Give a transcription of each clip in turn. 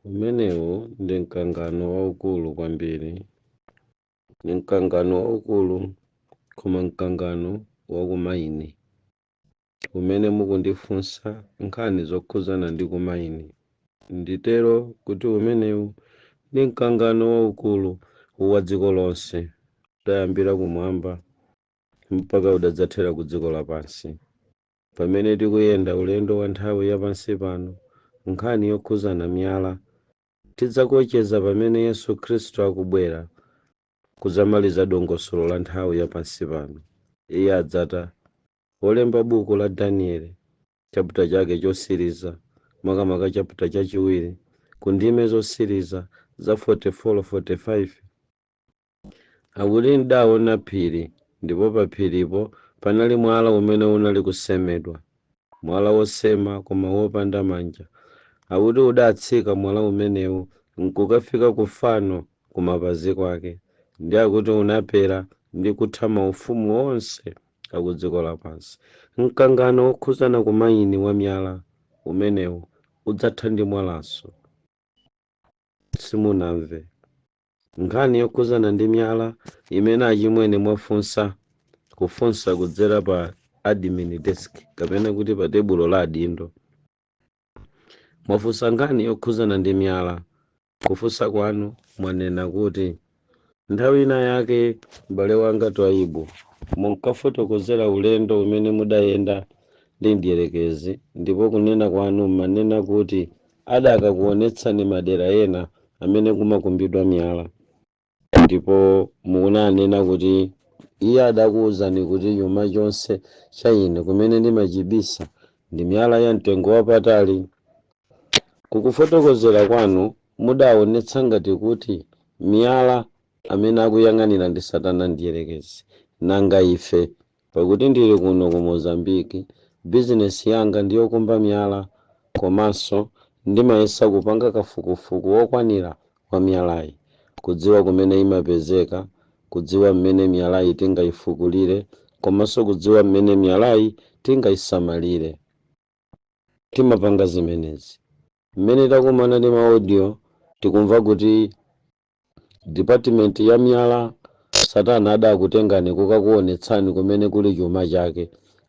Umenewu ndi mkangano waukulu kwambiri, ndi mkangano waukulu, koma mkangano wa kumaini umene mukundifunsa nkhani zokhudzana ndi kumaini, nditero kuti umenewu ndi mkangano waukulu wa dziko lonse, udayambira kumwamba mpaka udadzathera ku dziko lapansi. Pamene tikuyenda ulendo wa nthawi ya pansi pano nkhani yokhuzana miyala, tidzakocheza pamene Yesu Khristu akubwera kudzamaliza dongosolo la nthawi ya pansi pano. Iye adzata. Wolemba buku la Danieli, chaputa chake chosiriza, makamaka chaputa chachiwiri, ku ndime zosiriza za 44, 45, Akuti, Ndawona phiri, ndipo paphiripo panali mwala umene unali kusemedwa, mwala wosema koma wopanda manja. Akuti udatsika mwala umenewu n'kukafika ku fano kumapazi kwake, ndi akuti unapera ndi kutha maufumu onse akudziko lapansi. Mkangano wokhuzana ku mayini wa miyala umenewu udzatha ndi mwalanso. Simunamve? Nkhani yokhuzana ndi miyala imene achimwene mwafunsa kufunsa kudzera pa admin desk kapena kuti pa tebulo la adindo. Mwafunsa nkhani yokhuzana ndi miyala. Kufunsa kwanu mwanena kuti nthawi ina yake m'bale wanga Twaibu munkafotokozera ulendo umene mudayenda ndi mdierekezi ndipo kunena kwanu m'manena kuti adakakuonetsani madera ena amene kumakumbidwa miyala ndipo munanena kuti iye adakuwuzani kuti chuma chonse cha ine kumene ndimachibisa ndi miyala ya mtengo wapatali kukufotokozera kwanu mudaonetsa ngati kuti miyala amene akuyang'anira ndi satana mdierekezi nanga ife Pakuti ndili kuno ku Mozambique, bizinesi yanga ndi yokumba miyala komanso ndimayesa kupanga kafukufuku wokwanira wa miyalayi, kudziwa kumene imapezeka, kudziwa mmene miyalayi tingaifukulire komanso kudziwa mmene miyalayi tingaisamalire. Timapanga zimenezi mmene takumana ndi ma audio tikumva kuti Dipatimenti ya miyala, Satana adakutengani kukakuwonetsani kumene kuli chuma chake.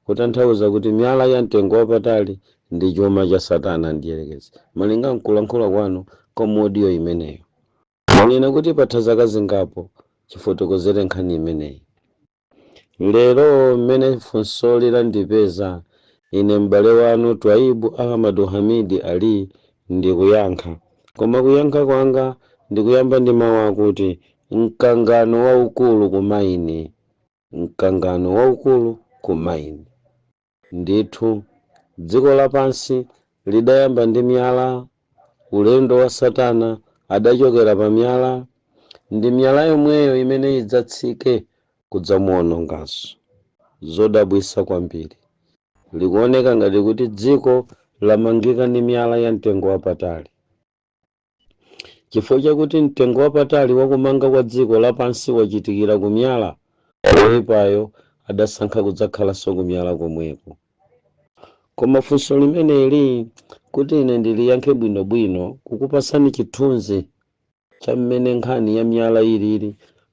Kutanthauza kuti miyala ya mtengo wapatali ndi chuma cha Satana Mdyerekezi. Malinga nkulankhula kwanu kwa mu audio imeneyo, mwanena kuti patha zaka zingapo chifotokozere nkhani imeneyi. Lero mmene funsoli landipeza, ine m'bale wanu Twaibu Ahmadu Hamidi Ali ndikuyankha. Koma kuyankha kwanga ndikuyamba ndi mawu akuti, mkangano waukulu ku maini. Mkangano waukulu ku maini. Ndithu, dziko lapansi lidayamba ndi miyala, ulendo wa satana adachokera pa miyala, ndi miyala yomweyo imene idzatsike kudzamuwononganso. Zodabwitsa kwambiri. Likuoneka ngati kuti dziko lamangika ndi miyala ya mtengo wapatali. Chifukwa chakuti mtengo wapatali wa kumanga kwa dziko lapansi wachitikira ku miyala, woipayo adasankha kudzakhalanso ku miyala komweko. Koma funso limeneli, kuti ine ndiliyankhe bwinobwino, kukupatsani chithunzi cha mmene nkhani ya miyala ilili,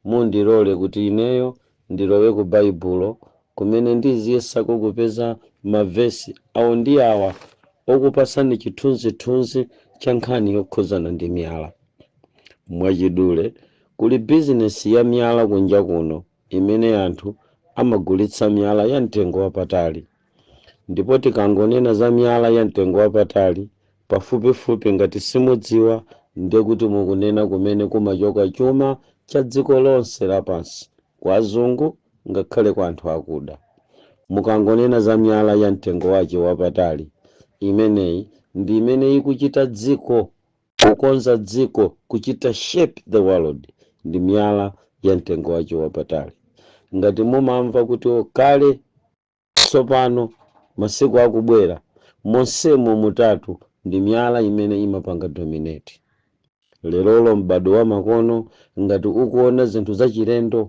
mundilole kuti ineyo ndilowe ku Baibulo kumene ndiziyesako kupeza mavesi awo ndi awa okupasani chithunzithunzi cha nkhani yokhuzana ndi miyala. Mwachidule, kuli bizinesi ya miyala kunja kuno imene anthu amagulitsa miyala ya mtengo wapatali. Ndipo tikangonena za miyala ya mtengo wapatali, pafupifupi ngati simudziwa ndiye kuti mukunena kumene kumachoka chuma cha dziko lonse lapansi, kwa azungu ngakhale kwa anthu akuda. Mukangonena za miyala ya mtengo wache wapatali, imeneyi ndi imene ikuchita dziko, kukonza dziko, kuchita shape the world ndi miyala ya mtengo wache wapatali. Ngati mumamva kuti oh, kale Tsopano, masiku akubwera, monsemo mutatu ndi miyala imene imapanga dominate. Lerolo, m'badwo wamakono, ngati ukuwona zinthu zachilendo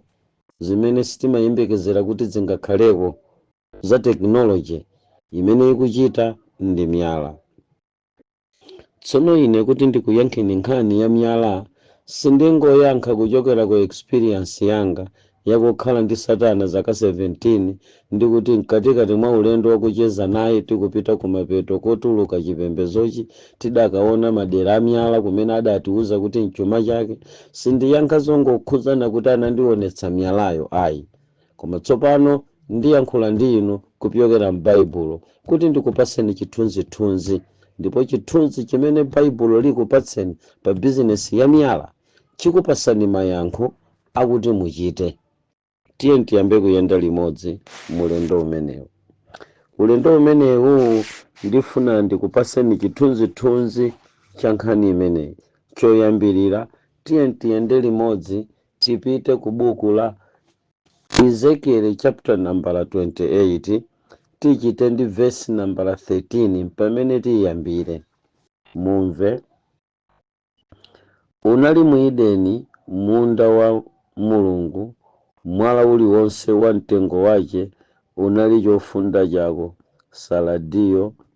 zimene sitimayembekezera kuti zingakhaleko, za technology, imene ikuchita ndi miyala. Tsono ine kuti ndikuyankheni nkhani ya miyala, sindingoyankha kuchokera ku experience yanga ya kukhala ndi satana zaka 17 ndi kuti mkatikati mwa ulendo wa kucheza naye tikupita kumapeto kotuluka chipembedzochi tidakaona madera a miyala kumene adatiuza kuti mchuma chake, sindiyankha zongokhudzana kuti anandionetsa miyalayo ayi. Koma tsopano ndiyankhula ndi inu kupyokera m'Baibulo kuti ndikupatseni chithunzithunzi. Ndipo chithunzi chimene Baibulo likupatseni pa bizinesi ya miyala chikupatsani mayankho akuti muchite. Tiye tiyambe kuyenda limodzi m'ulendo umenewu. Ulendo umenewu ndifuna ndikupatseni chithunzithunzi cha nkhani imeneyi. Choyambirira, tiye tiyende limodzi Tipite ku buku la Ezekieli chapter nambala 28, tichite ndi vesi nambala 13 mpamene tiyambire. Mumve. Unali mu Edeni, munda wa Mulungu, mwala uliwonse wa mtengo wache unali chofunda chako, saladiyo,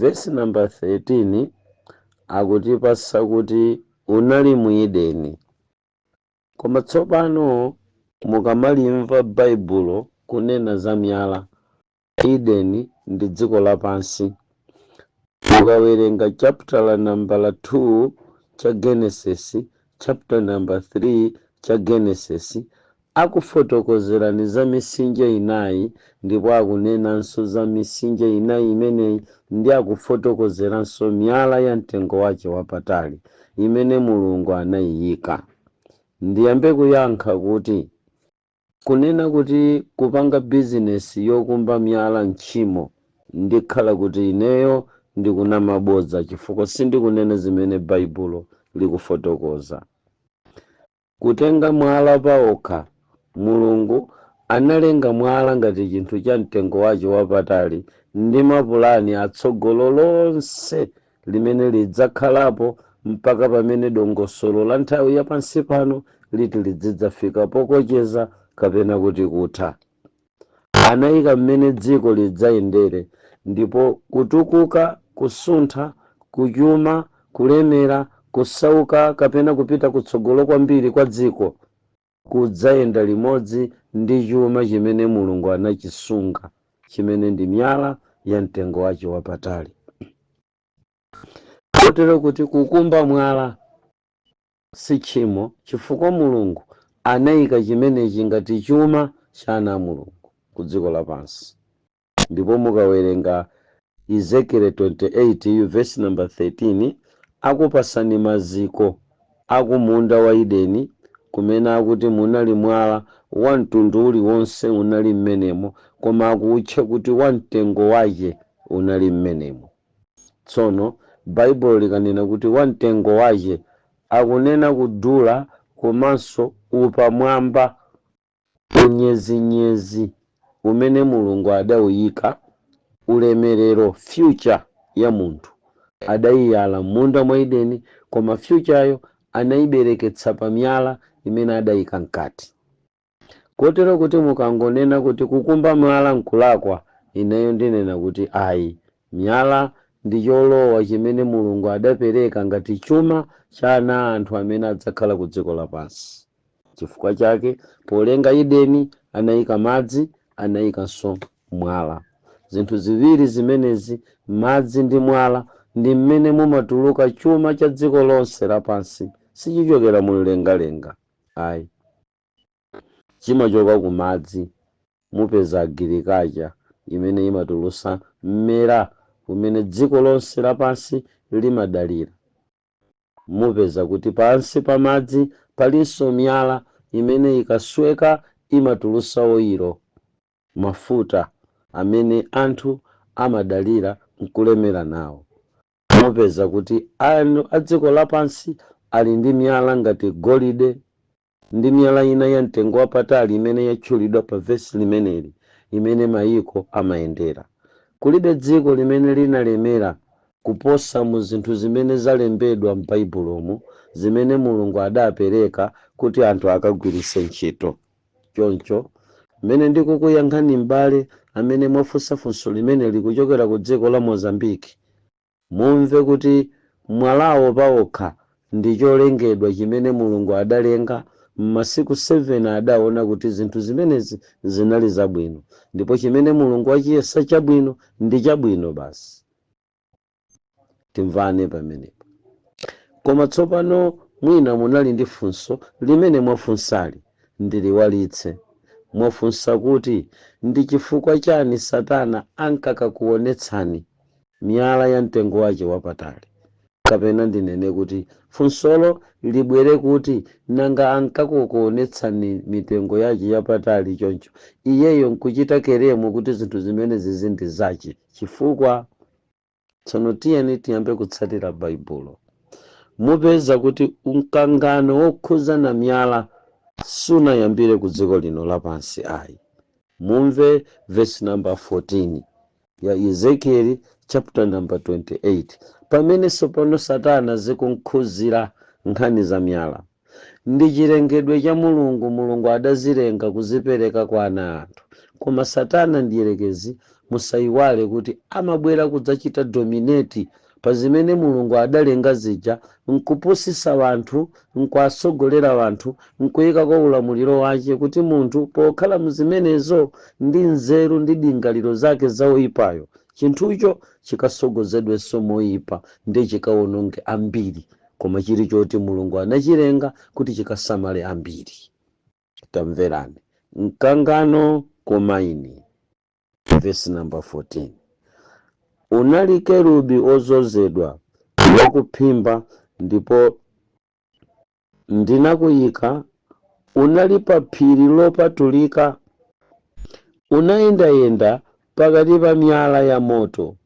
Vesi nambala 13 akutipasa kuti unali mu Ideni. Koma tsopano mukamalimva Baibulo kunena za miyala, Ideni ndi dziko lapansi. Mukawerenga chaputala nambala 2 cha Genesis chapter number 3 cha genesis akufotokozerani za misinje inayi ndipo akunenanso za misinje inayi imeneyi ndi akufotokozeranso miyala ya mtengo wache wapatali imene mulungu anayiyika ndiyambe kuyankha kuti Kunena kuti kupanga bizinesi yokumba miyala ntchimo ndikhala kuti ineyo ndikunama bodza chifukwa sindikunena zimene Baibulo likufotokoza. Kutenga mwala paokha Mulungu analenga mwala ngati chinthu cha mtengo wache wapatali ndi mapulani atsogolo lonse limene lidzakhalapo mpaka pamene dongosolo la nthawi ya pansi pano liti lidzidzafika pokocheza kapena kuti kutha. Anayika mmene dziko lidzayendere ndipo kutukuka, kusuntha, kuchuma, kulemera, kusauka kapena kupita kutsogolo kwambiri kwa dziko kudzayenda limodzi ndi chuma chimene Mulungu anachisunga, chimene ndi miyala ya mtengo wache wapatali. Kotero kuti kukumba mwala si tchimo chifukwa Mulungu anaika chimenechi ngati chuma cha ana a Mulungu ku dziko lapansi. Ndipo mukawerenga Ezekiele 28 vesi namba 13 akupasani maziko aku munda wa Ideni kumene akuti munali mwala wa mtundu uli wonse unali m'menemo koma akuutcha kuti wa mtengo wache unali m'menemo. Tsono Baibulo likanena kuti wa mtengo wache akunena kudula komanso upamwamba Unyezinyezi umene Mulungu adauyika ulemerero, future, ya munthu adaiyala mmunda mwa Edeni koma future yo anaibereketsa pa miyala imene adaika mkati. Kotero kuti mukangonena kuti kukumba mwala nkulakwa ineyo ndinena kuti ayi, miyala ndi cholowa chimene Mulungu adapereka ngati chuma cha ana a anthu amene adzakhala ku dziko lapansi. Chifukwa chake, polenga Edeni, anaika madzi, anaikanso mwala. Zinthu ziwiri zimenezi, madzi ndi mwala, ndi mmene mumatuluka chuma cha dziko lonse lapansi. Sichichokera mumlengalenga ayi. Chimachoka ku madzi. Mupeza agirikacha imene imatulutsa mmera umene dziko lonse lapansi limadalira. Mupeza kuti pansi pa madzi palinso miyala imene ikasweka imatulutsa oilo, mafuta, amene anthu amadalira n'kulemera nawo. Mupeza kuti anthu a dziko lapansi ali ndi miyala ngati golide, Ndi miyala ina ya mtengo wapatali imene yatchulidwa pa vesi limeneli imene mayiko amayendera. Kulibe dziko limene linalemera kuposa mu zinthu zimene zalembedwa m'Baibulomu zimene Mulungu adapereka kuti anthu akagwiritse ntchito. Choncho, mmene ndikukuyankhani m'bale amene mwafunsa funso limeneli kuchokera ku dziko la Mozambique, Mumve kuti mwalawo paokha ndi cholengedwa chimene Mulungu adalenga m'masiku 7 adaona kuti zinthu zimenezi zinali zabwino, ndipo chimene Mulungu wachiyesa chabwino, ndi chabwino basi. Timvane pamenepo. Koma tsopano mwina munali ndi funso limene mwafunsali, ndiliwalitse. Mwafunsa kuti ndi chifukwa chani Satana ankakakuonetsani miyala ya mtengo wace wapatali. Kapena ndinene kuti, funsolo libwere kuti, nanga ankakuonetsani mitengo yace yapatali conco, iyeyo nkucita kelemu kuti zinthu zimenezizi ndi zace? Cifukwa? Tsono tiyeni tiyambe kutsatira Baibulo. Mupeza kuti mkangano wokhudza na miyala sunayambire ku dziko lino lapansi ai. Mumve vesi namba 14 ya Ezekieli chaputa namba 28, pamene tsopano Satana zikumkhuzira nkhani za miyala. Ndi chilengedwe cha Mulungu, Mulungu adazilenga kuzipereka kwa ana a anthu. Koma Satana mdierekezi, musaiwale kuti amabwera kudzachita dominate pa zimene Mulungu adalenga zija, nkupusitsa wanthu, nkuwatsogolera wanthu, nkuikako ulamuliro wace, kuti munthu, pokhala mu zimenezo, ndi nzeru ndi dingaliro zake za woipayo, chinthucho chikatsogozedwenso moyipa, ndiye chikawononge ambiri, koma chiri choti Mulungu anachilenga kuti chikasamale ambiri. Tamverani! Mkangano ku maini. vesi namba 14 unali kerubi odzozedwa wakuphimba ndipo ndinakuyika unali pa phiri lopatulika unayendayenda pakati pa miyala ya moto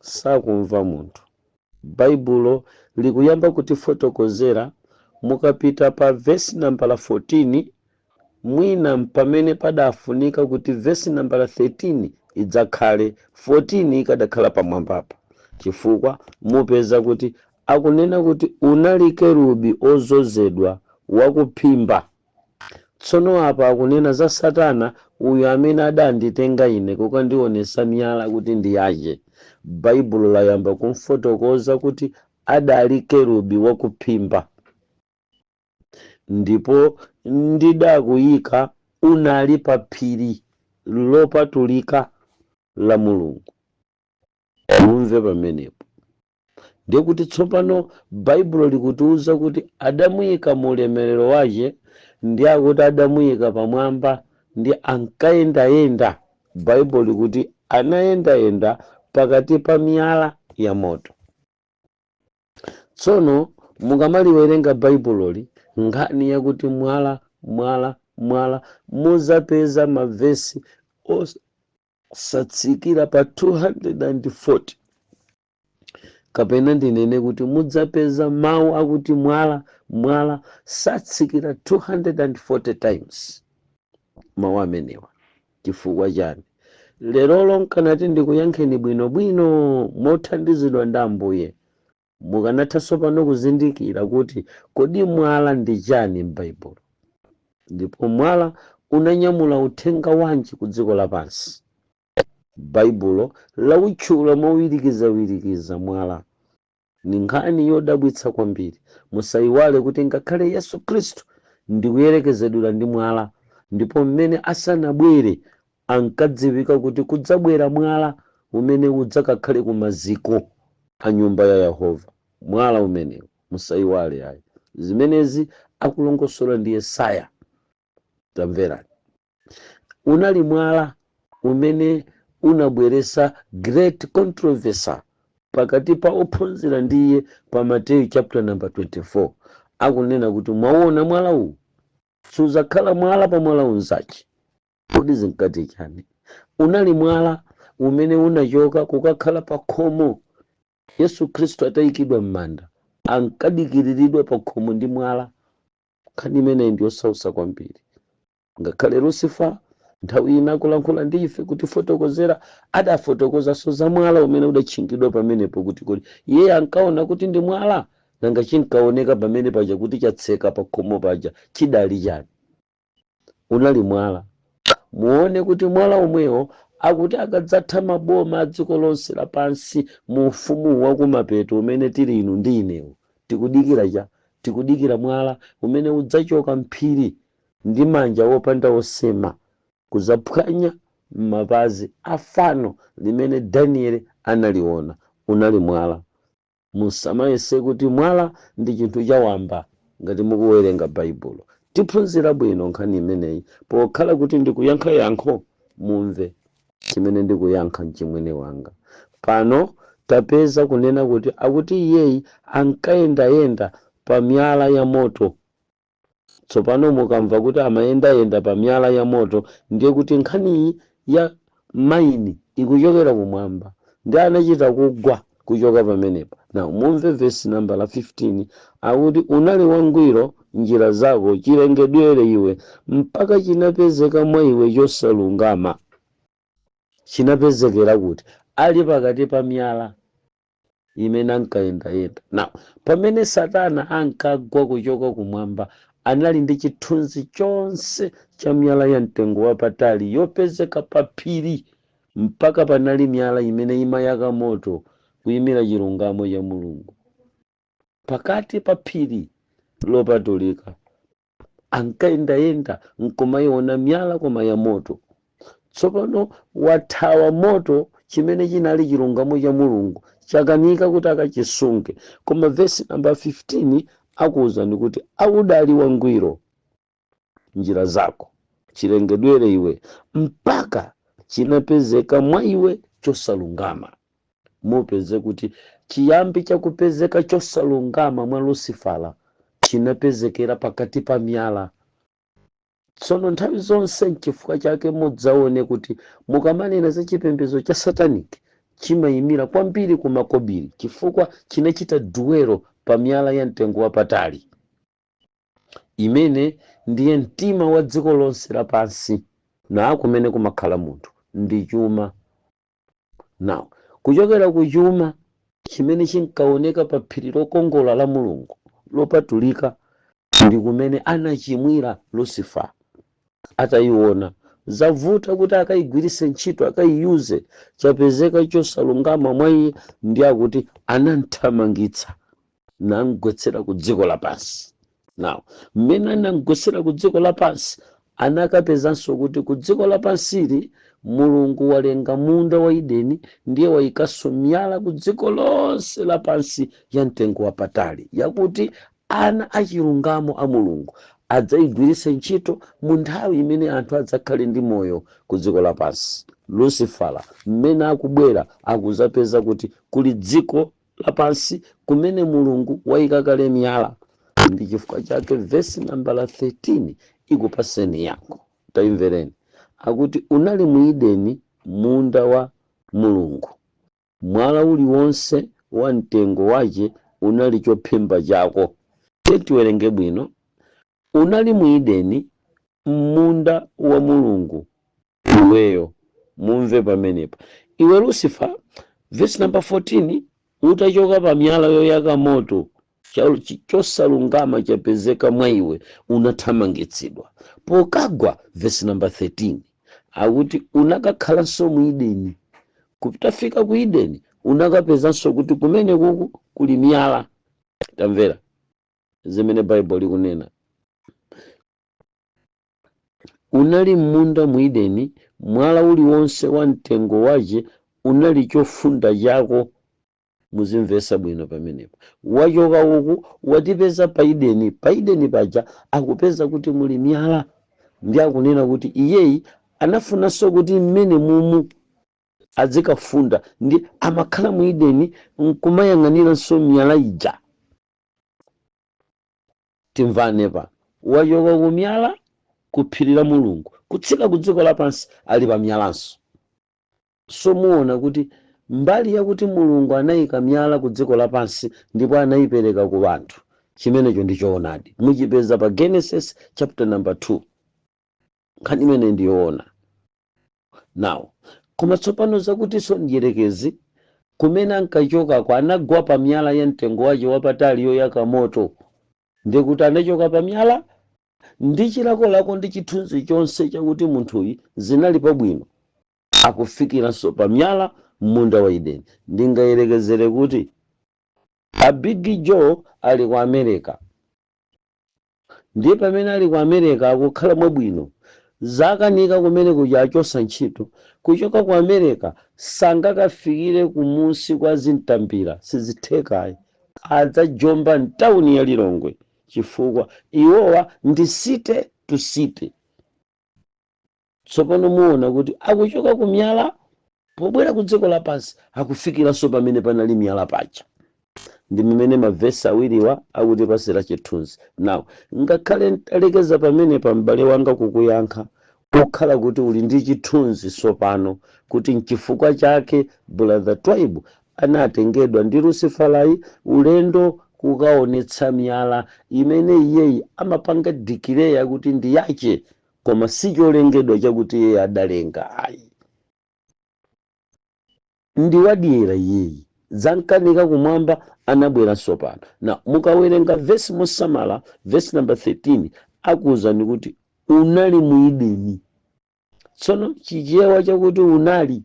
sakumva munthu. Baibulo likuyamba kutifotokozera mukapita pa vesi nambala 14, mwina mpamene padafunika kuti vesi nambala 13 idzakhale, 14 ikadakhala pamwambapa, chifukwa mupeza kuti akunena kuti unali kerubi odzozedwa wakuphimba. Tsono apa akunena za satana uyu amene adanditenga ine kukandionesa miyala kuti ndi yache. Baibulo layamba kumfotokoza kuti adali kerubi wakuphimba. Ndipo ndidakuyika unali pa phiri lopatulika la Mulungu. Mumve pamenepo. ndiye kuti tsopano baibulo likutiuza kuti adamuyika mu ulemerero wache ndi akuti adamuyika pamwamba ndi ankayendayenda baibulo likuti anayendayenda pakati pa miyala ya moto tsono mukamaliwerenga baibuloli nkhani yakuti mwala mwala mwala muzapeza mavesi osatsikira pa 240 kapena ndinene kuti mudzapeza mawu akuti mwala mwala satsikira 240 times mawu amenewa chifukwa chani lerolo nkanati ndikuyankheni bwinobwino mothandizidwa ndi ambuye mukanatha tsopano kuzindikira kuti kodi mwala ndi chani m'baibulo ndipo mwala unanyamula uthenga wanji ku dziko lapansi Baibulo lautchula mowirikizawirikiza mwala. Ndi nkhani yodabwitsa kwambiri. Musaiwale kuti ngakhale Yesu Kristu ndikuyerekezedwera ndi mwala, ndipo mmene asanabwere ankadziwika kuti kudzabwera mwala umene udzakakhale ku maziko a nyumba ya Yehova. Mwala umenewu, musaiwale ayi, zimenezi akulongosola ndi Yesaya. Tamverani. unali mwala umene unabweretsa great controversy pakati pa ophunzira ndi iye pa mateyu chapter number 24 akunena kuti mwauona mwala uwu sudzakhala mwala pa mwala unzache kodi zinkati chani unali mwala umene unachoka kukakhala pa khomo yesu khristu atayikidwa m'manda ankadikiriridwa pa khomo ndi mwala Nkhani imeneyi ndi yosautsa kwambiri. Ngakhale Lucifer nthawi ina akulankhula ndi ife kutifotokozera, adafotokozanso za mwala umene udatchingidwa pamenepo kuti kodi iyeyo ankaona kuti ndi mwala? Nanga chinkaoneka pamene paja kuti chatseka pakhomo paja chidali chani? unali mwala. Muone kuti mwala omwewo akuti akadzatha maboma a dziko lonse lapansi mu ufumu wa kumapeto umene tili inu ndi inewu, tikudikira cha? Tikudikira mwala umene udzachoka m'phiri ndi manja opanda osema kudzaphwanya mapazi a fano limene Danieli analiona. Unali mwala. Musamayese kuti mwala ndi chinthu chawamba ngati mukuwerenga Baibulo. Tiphunzira bwino nkhani imeneyi pokhala kuti ndikuyankha yankho. Mumve chimene ndikuyankha mchimwene wanga. Pano tapeza kunena kuti akuti iyeyi ankayendayenda pa miyala ya moto Tsopano mukamva kuti amayendayenda pa miyala ya moto, ndiye kuti nkhaniyi ya maini ikuchokera kumwamba. Ndiye anachita kugwa kuchoka pamenepa. Now, mumve vesi nambala 15, akuti, Unali wangwiro m'njira zako chilengedwere iwe, mpaka chinapezeka mwa iwe chosalungama. Chinapezekera kuti? Ali pakati pa miyala. imene ankayendayenda. Now, pamene Satana ankagwa kuchoka kumwamba, anali ndi chithunzi chonse cha miyala ya mtengo wapatali yopezeka pa phiri, mpaka panali miyala imene imayaka moto, kuimira chilungamo cha Mulungu, pakati pa phiri lopatulika ankayendayenda n'kumaiona miyala koma ya moto. Tsopano wathawa moto chimene chinali chilungamo cha Mulungu chakanika kuti akachisunge. Koma vesi namba 15 akuwuzani kuti a udali wangwiro m'njira zako chilengedwere iwe mpaka chinapezeka mwa iwe chosalungama. mupeze kuti chiyambi cha kupezeka chosalungama mwa Lusifala chinapezekera pakati pa miyala. Tsono nthawi zonse nchifukwa chake mudzaone kuti mukamanena za chipembedzo cha satanic chimaimira kwambiri ku makobiri chifukwa chinachita dwell pa miyala ya mtengo wapatali imene ndiye mtima wa dziko lonse lapansi ndi kumene kumakhala munthu ndi chuma. Now, kuchokera ku chuma chimene chinkaoneka pa phiri lokongola la Mulungu lopatulika ndi kumene anachimwira Lucifer atayiona zavuta kuti akayigwiritse ntchito akayiyuze chapezeka chosalungama mwa iye ndiye akuti anamthamangitsa namgwetsera ku dziko lapansi now mmene anamgwetsera ku dziko lapansi anakapezanso kuti ku dziko lapansili mulungu walenga munda wa ideni ndiye wayikanso miyala ku dziko lonse lapansi ya mtengo wapatali yakuti ana achilungamo a mulungu adzayigwiritse ntchito mu nthawi imene anthu adzakhale ndi moyo ku dziko lapansi lusifala mmene akubwera akuzapeza kuti kuli dziko lapansi kumene Mulungu waika kale miyala. Ndi chifukwa chake vesi nambala 13 ikupaseni yankho. Taimvereni, akuti unali mu Ideni, munda wa Mulungu. Mwala uliwonse wa mtengo wace unali cophimba cako. Tiye tiwerenge bwino. Unali mu Ideni, mmunda wa Mulungu, iweyo. Mumve pamenepa, iwe Lusifa, vesi namba 14, Utachoka pa miyala yoyaka moto, chosalungama chapezeka mwa iwe, unathamangitsidwa. Pokagwa, vesi namba 13, akuti unakakhalanso mu Ideni. Kutafika ku Ideni, unakapezanso kuti kumene kuku kuli miyala. Tamvera, zimene baibulo likunena unali m'munda mu ideni mwala uliwonse wa mtengo wace unali chofunda cako muzimvesa bwino pamenepo wachoka uku watipeza pa ideni pa ideni paja akupeza kuti muli miyala ndi akunena kuti iyeyi anafunanso kuti mmene mumu adzikafunda ndi amakhala mu ideni nkumayang'aniranso miyala ija timvane apa wachoka ku miyala ku phiri la mulungu kutsika ku dziko lapansi ali pa miyalanso so muona kuti mbali yakuti mulungu anayika miyala ku dziko lapansi ndipo anayipereka ku anthu chimenecho ndi choonadi muchipeza pa genesis chapter number 2 nkhani imene ndiyoona Now, koma tsopano zakutinso mdyerekezi kumene ankachoka kwa anagwa pa miyala ya mtengo wace wapatali yoyaka moto, ndi kuti anachoka pa miyala ndi chilakolako ndi chithunzi chonse chakuti munthuyi zinali pabwino akufikiranso pa miyala m'munda wa Edeni. Ndingayerekezere kuti a Big Joe ali ku America, Ndiye pamene ali ku America akukhala mwabwino. Zakanika kumene kuja achotsa ntchito. Kuchoka ku America sangakafikire kumudzi kwa Zintambira sizitheka ayi. Adzajomba mtauni ya Lilongwe chifukwa iwowa ndi city to city. Tsopano muona kuti akuchoka ku miyala pobwera ku dziko lapansi, akufikiranso pamene panali miyala paja. Ndi mimene ma vesi awiriwa akutipasira chithunzi. Now, ngakhale ntalekeza pamenepa m'bale wanga kukuyankha, kukhala kuti uli ndi chithunzi tsopano kuti nchifukwa chake Brother Twaibu anatengedwa ndi Lusifalayi ulendo kukaonetsa miyala imene iyeyi amapanga declare kuti ndi yache koma si cholengedwa chakuti iyeyi adalenga ayi ndi wadyera iyeyi zamkanika kumwamba anabweranso pano na mukawerenga vesi mosamala vesi namba 13 akuwuzani kuti unali mu Edeni tsono chichewa chakuti unali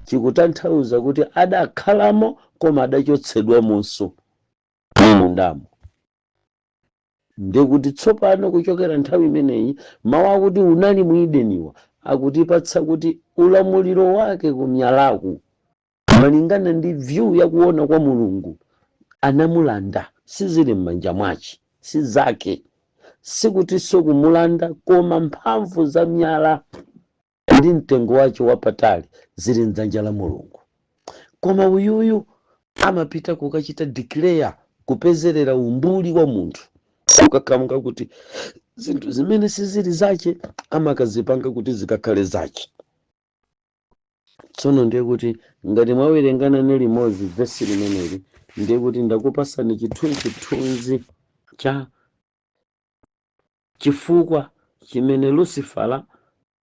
chikutanthauza kuti adakhalamo koma adachotsedwamonso mundamo Ndiye kuti tsopano kuchokera nthawi imeneyi, mau akuti unali mu Edeniwa akutipatsa kuti ulamuliro wake ku miyalaku, malingana ndi view ya kuona kwa Mulungu, anamulanda, sizili m'manja mwache, si zake, sikutinso kumulanda koma mphamvu za miyala. ndi mtengo wace wapatali ziri m'dzanja la mulungu koma uyuyu amapita kukachita declare kupezerera umbuli wa munthu ukakhamuka kuti zinthu zimene siziri zace amakazipanga kuti zikakhale zace tsono ndiye kuti ngati mwawerenga nane limodzi vesi limeneli ndiye kuti ndakupasani chithunzithunzi cha Chifukwa chimene Lusifara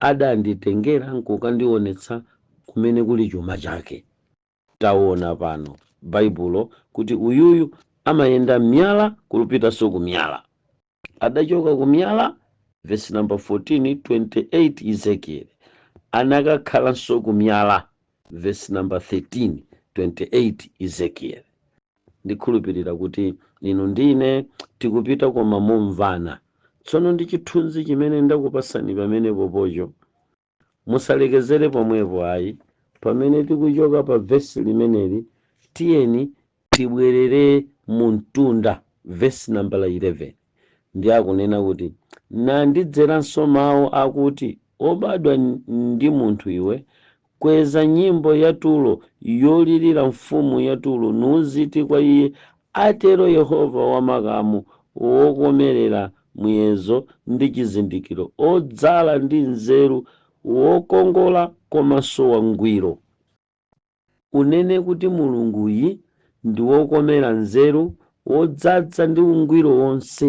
adanditengera nkukandionetsa kumene kuli chuma chake. Taona pano, Baibulo, kuti uyuyu amayenda m'miyala n'kupitanso ku miyala. Adachoka ku miyala, vesi namba 14, 28, Ezekiele, anakakhalanso ku miyala, vesi namba 13, 28, Ezekiele. Ndikhulupirira kuti inu ndi ine tikupita koma momvana. Tsono ndi chithunzi chimene ndakupasani pamenepopocho. Musalekezere pomwepo ayi. Pamene tikuchoka pa vesi limeneli tiyeni tibwerere mu mtunda vesi nambala 11. Ndiye akunena kuti, Nandidzeranso mau akuti, Wobadwa ndi munthu iwe, kweza nyimbo ya Turo, yolirira mfumu ya Turo, nuuziti kwa iye, Atero Yehova wa makamu, Wokomerera muyezo ndi chizindikiro, wodzala ndi nzeru, wokongola komanso wangwiro. Unene kuti Mulunguyi ndi wokomera nzeru wodzadza ndi ungwiro wonse.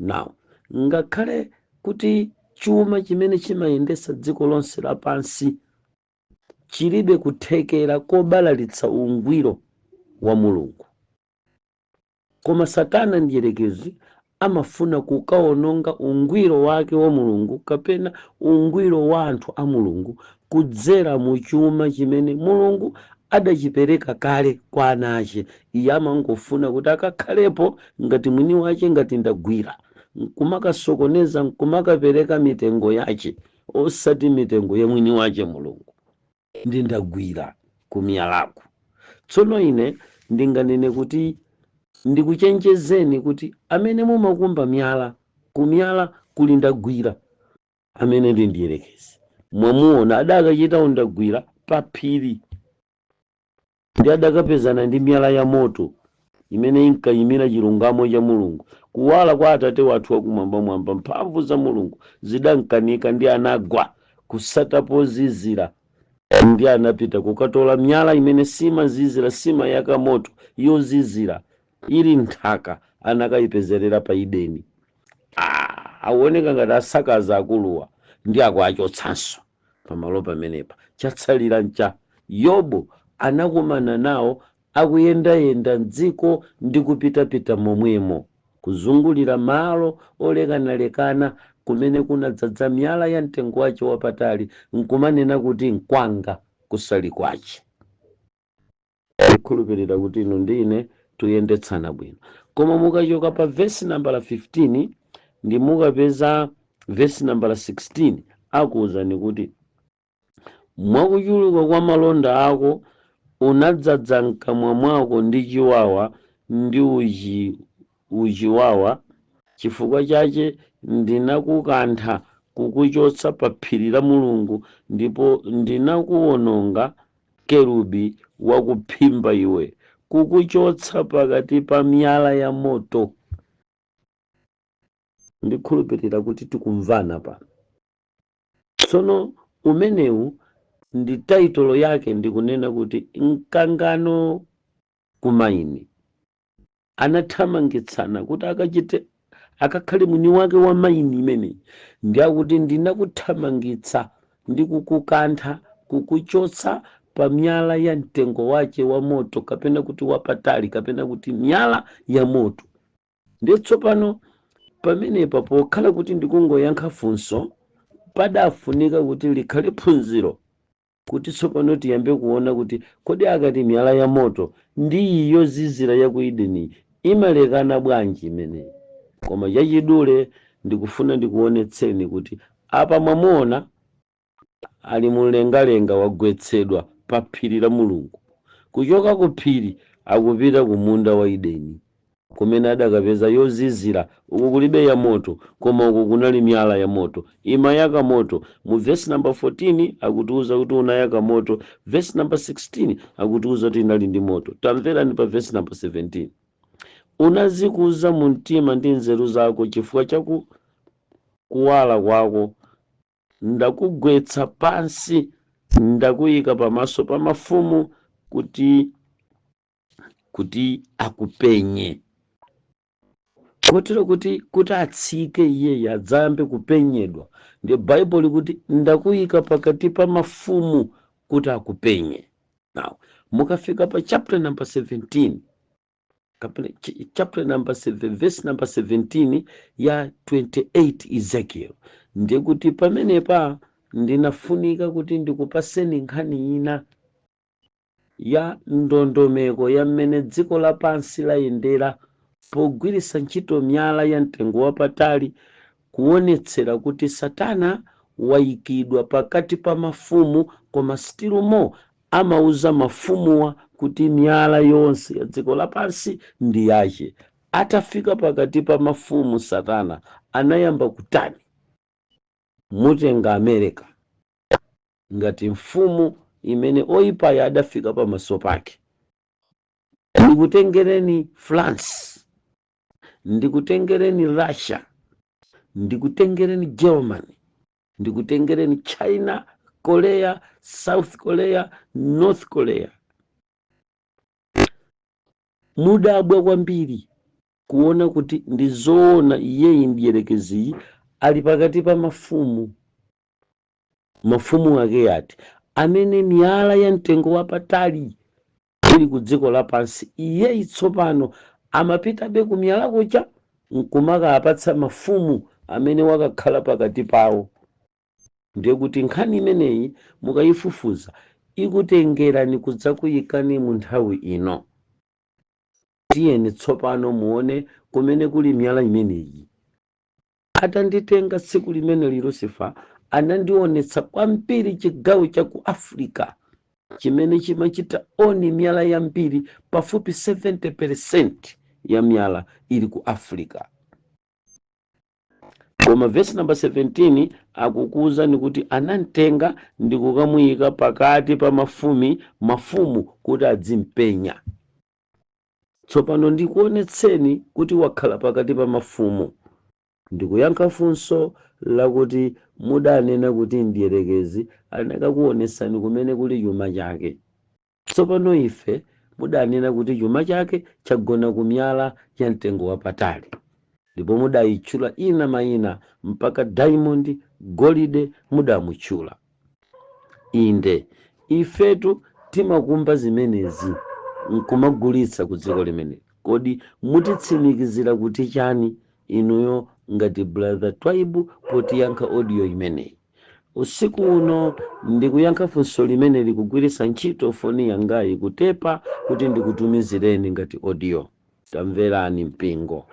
Now, ngakhale kuti chuma chimene chimayendetsa dziko lonse lapansi chilibe kuthekera kobalalitsa ungwiro wa Mulungu, Koma Satana Mdyerekezi amafuna kukawononga ungwiro wake wa Mulungu kapena ungwiro wa anthu a Mulungu kudzera mu chuma chimene Mulungu adachipereka kale kwa ana ache. Iye amangofuna kuti akakhalepo ngati mwini wache ngati ndagwira, nkumakasokoneza nkumakapereka mitengo yache osati mitengo ya mwini wache Mulungu. ndi ndagwira kumiyalako tsono ine ndinganene kuti ndikuchenjezeni kuti amene mumakumba miyala kumiyala kuli ndagwira amene ndi mdierekezi mwamuona adakachita undagwira pa phiri Ndi adakapezana ndi miyala ya moto, imene inkayimira chilungamo cha Mulungu, kuwala kwa Atate wathu wa Kumwambamwamba, mphamvu za Mulungu zidamkanika ndi anagwa kusata pozizira, ndi anapita kukatola miyala imene simazizira, simayaka moto, yozizira, ili m'nthaka, anakayipezerera pa Edeni. Ah, akuoneka ngati akusakaza akuluwa, ndiye akuwachotsanso. pamalo pamenepa. Chatsalira ncha, Yobu anakumana nawo akuyendayenda m'dziko ndi kupitapita momwemo, kuzungulira malo olekanalekana kumene kunadzadza miyala ya mtengo wache wapatali, nkumanena kuti, Nkwanga, kusali kwache. Ndikhulupirira kuti inu ndi ine tuyendetsana bwino. Koma mukachoka pa vesi nambala 15 ndi mukapeza vesi nambala 16 akuwuzani kuti mwakuchuluka kwa malonda ako unadzadza mkamwa mwako ndi chiwawa ndi uchiwawa chifukwa chache ndinakukantha kukuchotsa pa phiri la Mulungu ndipo ndinakuwononga kerubi wakuphimba iwe, kukuchotsa pakati pa miyala ya moto. Ndikhulupirira kuti tikumvana pano. Tsono umenewu ndi taitolo yake ndikunena kuti mkangano kumaini. anathamangitsana kuti akachite akakhale mwini wake wa maini imeneyi ndi akuti ndinakuthamangitsa ndi kukukantha kukuchotsa pa miyala ya mtengo wache wa moto kapena kuti wapatali kapena kuti miyala ya moto ndiye tsopano pamenepa pokhala kuti ndikungoyankha funso padafunika kuti likhale phunziro kuti tsopano tiyambe kuona kuti kodi akati miyala ya moto ndi iyi yozizira ya ku Edeniyi imalekana bwanji imeneyi. Koma chachidule ndikufuna ndikuonetseni kuti apa mwamuona ali mu mlengalenga wagwetsedwa pa phiri la Mulungu. Kuchoka ku phiri akupita ku munda wa Edeni. kumene adakapeza yozizira, uku kulibe yamoto, koma uku kunali miyala ya moto, imayaka moto. Mu vesi namba 14 akutiuza kuti unayaka moto, vesi namba 16 akutiuza kuti inali ndi moto. Tamverani pa vesi namba 17 unazikuza mu mtima ndi nzeru zako chifukwa cha kuwala kwako ndakugwetsa pansi ndakuyika pamaso pa mafumu kuti kuti akupenye kotero kuti kuti atsike iyeyi adzayambe kupenyedwa ndiye baibulo likuti ndakuyika pakati pa mafumu kuti akupenye now mukafika pa chapter number 17 kapena ch- chapter number 7 verse number 17 ya 28 ezekiel ndiye kuti pamenepa ndinafunika kuti ndikupaseni nkhani ina ya ndondomeko ya m'mene dziko lapansi layendera pogwiritsa ntchito miyala ya mtengo wapatali kuonetsera kuti satana waikidwa pakati pa mafumu koma still more amauza mafumuwa kuti miyala yonse ya dziko lapansi ndi yache. Atafika pakati pa mafumu satana anayamba kutani? Mutenga America. ngati mfumu imene oyipayi adafika pamaso pake. Ndikutengereni France, ndikutengereni Russia, ndikutengereni Germany, ndikutengereni China, Korea, South Korea, North Korea. Mudabwa kwambiri kuona kuti ndi zoona iyeyi mdierekeziyi ali pakati pa mafumu Mafumu ake ati amene miyala ya mtengo wapatali ili kudziko lapansi, iyeyi tsopano amapitabe kumiyala kuja n'kumakawapatsa mafumu amene wakakhala pakati pawo? Ndiye kuti nkhani imeneyi mukaifufuza, ikutengerani kudzakuikani mu nthawi ino. Tiyeni tsopano muone kumene kuli miyala imeneyi. Atanditenga tsiku limene Lucifer anandionetsa kwambiri chigawo cha ku Africa chimene chimachita own miyala yambiri pafupi 70% ya miyala ili ku Africa. Koma verse number 17 akukuwuzani kuti anamtenga ndi kukamuyika pakati pa mafumi mafumu kuti adzimpenya. Tsopano ndikuonetseni kuti wakhala pakati pa mafumu. Ndikuyankha funso lakuti mudanena kuti mdierekezi anakakuonetsani kumene kuli chuma chake. Tsopano ife mudanena kuti chuma chake chagona ku miyala ya mtengo wapatali. Ndipo mudaitchula ina maina mpaka Daimondi, Golide mudamutchula. Inde. Ifetu timakumba zimenezi n'kumagulitsa kudziko limeneli. Kodi mutitsimikizira kuti chani inuyo ngati brother Twaibu potiyankha audio imeneyi? Usiku uno ndikuyankha funso limeneli kugwiritsa ntchito foni yangayi kutepa kuti ndikutumizireni ngati audio. Tamverani, mpingo,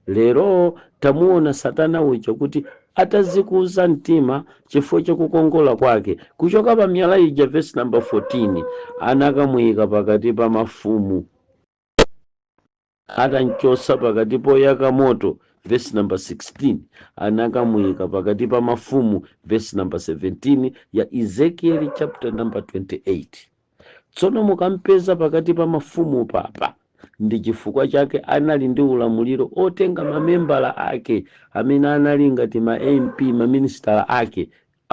lero. Tamuwona Satana uja kuti atazikuza mtima chifukwa cha kukongola kwake, kuchoka pa miyala ija, vesi namba 14, anakamuika pakati pa mafumu, atamchotsa pakati poyaka moto, vesi namba 16, anakamuika pakati pa mafumu, vesi namba 17 ya Ezekieli chapter number 28. Tsono mukampeza pakati pa mafumu apa ndi chifukwa chake anali ndi ulamuliro otenga ma membala ake amene anali ngati ma MP, ma ministala ake,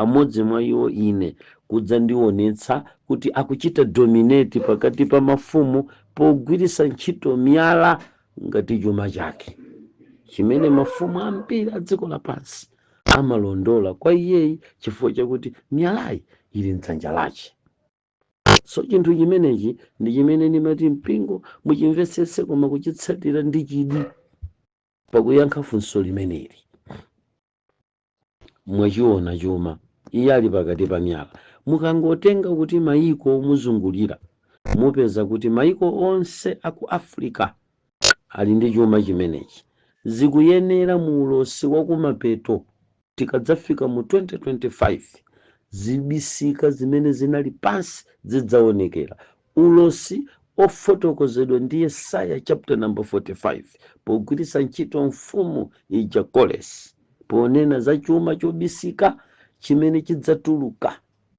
amodzi mwa iwo ine, kudzandionetsa kuti akuchita dominate pakati pa mafumu pogwiritsa ntchito miyala ngati chuma chake chimene mafumu ambiri a dziko lapansi amalondola kwa iyeyi chifukwa chakuti miyalayi ili m'dzanja lache. so chinthu chimenechi ndi chimene ndimati mpingo muchimvetsetse koma kuchitsatira ndi chidi pakuyankha funso limeneli mwachiona chuma iye ali pakati pa miyala mukangotenga kuti mayiko omuzungulira mupeza kuti mayiko onse aku africa ali ndi chuma chimenechi zikuyenera mu ulosi wakumapeto Tikadzafika mu 2025, zibisika zimene zinali pansi zidzaonekera. Ulosi wofotokozedwa ndi Yesaya chapter number 45, pogwiritsa ntchito mfumu ija Koresi, ponena za chuma chobisika chimene chidzatuluka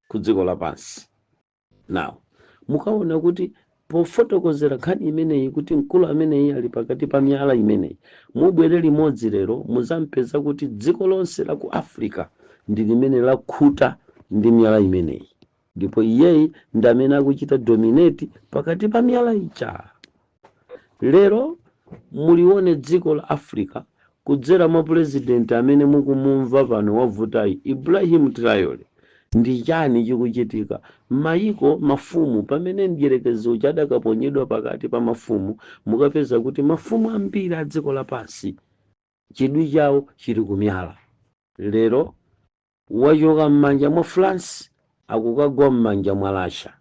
ku dziko lapansi. Now, mukaona kuti pofotokozera nkhani imeneyi kuti mkulu ameneyi ali pakati pa miyala imeneyi, mubwere limodzi lero muzampeza kuti dziko lonse la ku Africa ndi limene lakhuta ndi miyala imeneyi, ndipo iyeyi ndi amene akuchita dominate pakati pa miyala ija. Lero mulione dziko la Africa kudzera mwa pulezidenti amene mukumumva pano wavutayi, Ibrahim Traore. Ndi chani chikuchitika? Mayiko, mafumu, pamene mdyerekezi uja adakaponyedwa pakati pa mafumu, mukapeza kuti mafumu ambiri a dziko lapansi chidwi chawo chili kumyala. Lero wachoka m'manja mwa France akukagwa m'manja mwa Russia.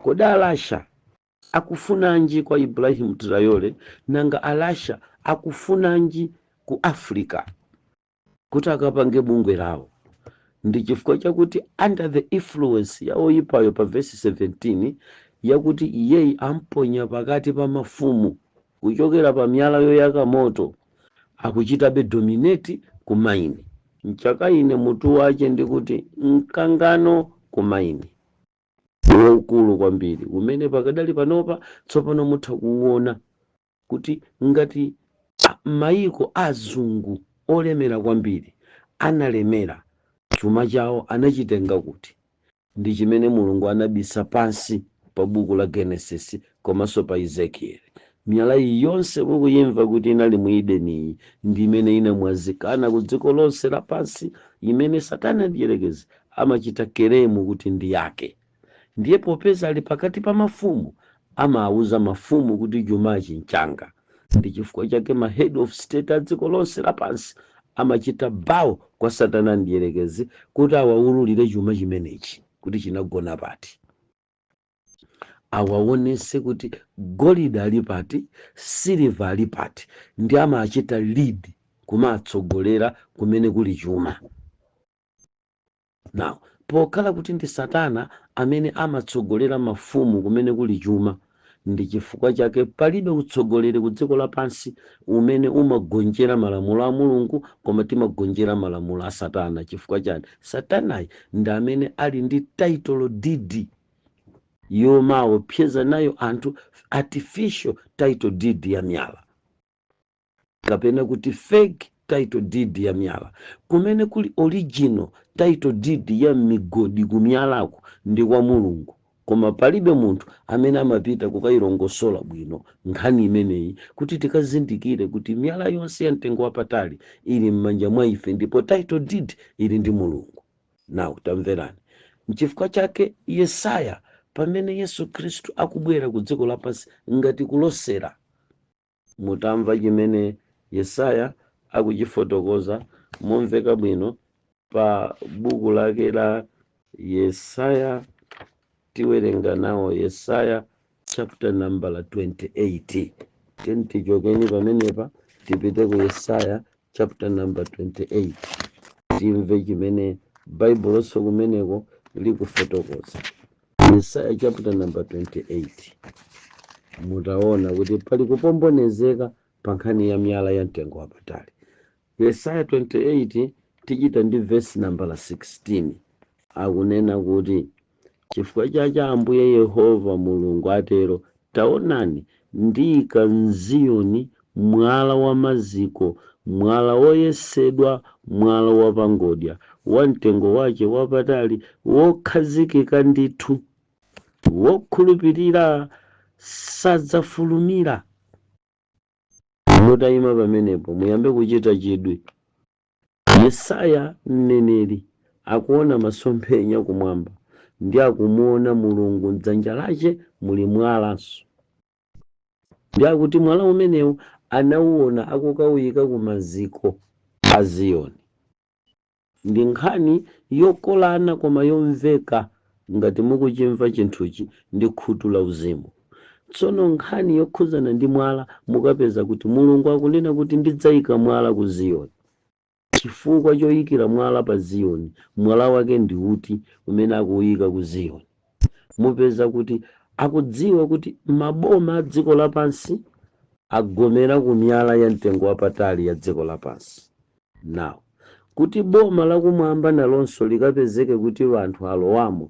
Kodi a Russia akufunanji kwa Ibrahim Traore nanga a Russia akufunanji ku Africa kuti akapange bungwe lawo? Ndi chifukwa chakuti under the influence ya oyipayo pa vesi 17 yakuti iyeyi amponya pakati pa mafumu kuchokera pa miyala yoyaka moto akuchitabe dominate ku maini. Mchaka ine mutu wache ndikuti mkangano ku maini. waukulu kwambiri umene pakadali panopa tsopano mutha kuwuona kuti ngati mayiko azungu olemera kwambiri analemera chuma chawo anachitenga kuti ndi chimene mulungu anabisa pansi pa buku la genesis komanso pa Ezekieli. Miyala iyi yonse mukuyimva kuti inali mu Edeniyi ndi imene inamwazikana ku dziko lonse lapansi imene Satana Mdyerekezi amachita kelemu kuti ndi yake. Ndiye popeza ali pakati pa mafumu, amawuza mafumu kuti chumachi n'changa. Ndi chifukwa chake ma head of state a dziko lonse lapansi amachita bow kwa Satana Mdyerekezi kuti awawululire chuma chimenechi kuti chinagona pati. awaonese kuti golide ali pati, siliva ali pati, ndi amachita lead kumatsogolera kumene kuli chuma. Now, pokhala kuti ndi Satana amene amatsogolera mafumu kumene kuli chuma, ndi chifukwa chake palibe utsogoleri ku dziko lapansi umene umagonjera malamulo a Mulungu, koma timagonjera malamulo a Satana. Chifukwa chani? Satanayi ndi amene ali ndi title deed yomaopseza nayo anthu artificial title deed ya myala kapena kuti fake title deed ya miyala kumene kuli original title deed ya migodi ku miyalako ndi kwa mulungu koma palibe munthu amene amapita kukayilongosola bwino nkhani imeneyi kuti tikazindikire kuti miyala yonse ya mtengo wapatali ili m'manja mwa ife ndipo title deed ili ndi mulungu Now, tamverani. Nchifukwa chake Yesaya, pamene Yesu Khristu akubwera ku dziko lapansi ngati kulosera, mutamva chimene Yesaya akuchifotokoza momveka bwino pa buku lake la Yesaya, tiwerenga nawo Yesaya chapter number 28 tiyeni tichokeni pamenepa tipite ku yesaya chapter number 28 timve chimene baibuloso kumeneko likufotokoza yesaya chapter number 28 mutaona kuti pali kupombonezeka pa nkhani ya miyala ya mtengo wapatali Yesaya 28 tichita ndi vesi nambala 16. Akunena kuti, Chifukwa chache Ambuye Yehova Mulungu atero, Taonani, ndiika m'Ziyoni mwala wa maziko, mwala woyesedwa, mwala wa pangodya, wa mtengo wache wapatali, wokhazikika ndithu, wokhulupirira sadzafulumira. mutayima pamenepo muyambe kuchita chidwi. Yesaya mneneri akuona masomphenya kumwamba ndi akumuona Mulungu mdzanja lache muli mwalanso. Ndi akuti mwala umenewu anauona akukawuyika ku maziko a Ziyoni. Ndi nkhani yokolana koma yomveka ngati mukuchimva chinthuchi ndi khutu la uzimu. Tsono nkhani yokhuzana ndi mwala mukapeza kuti Mulungu akunena kuti ndidzaika mwala ku Ziyoni. Chifukwa choikira mwala pa Ziyoni, mwala wake ndi uti umene akuuika ku Ziyoni? Mupeza kuti akudziwa kuti maboma a dziko lapansi agomera ku miyala ya mtengo wapatali ya dziko lapansi. Now, kuti boma la kumwamba nalonso likapezeke kuti anthu alowamo,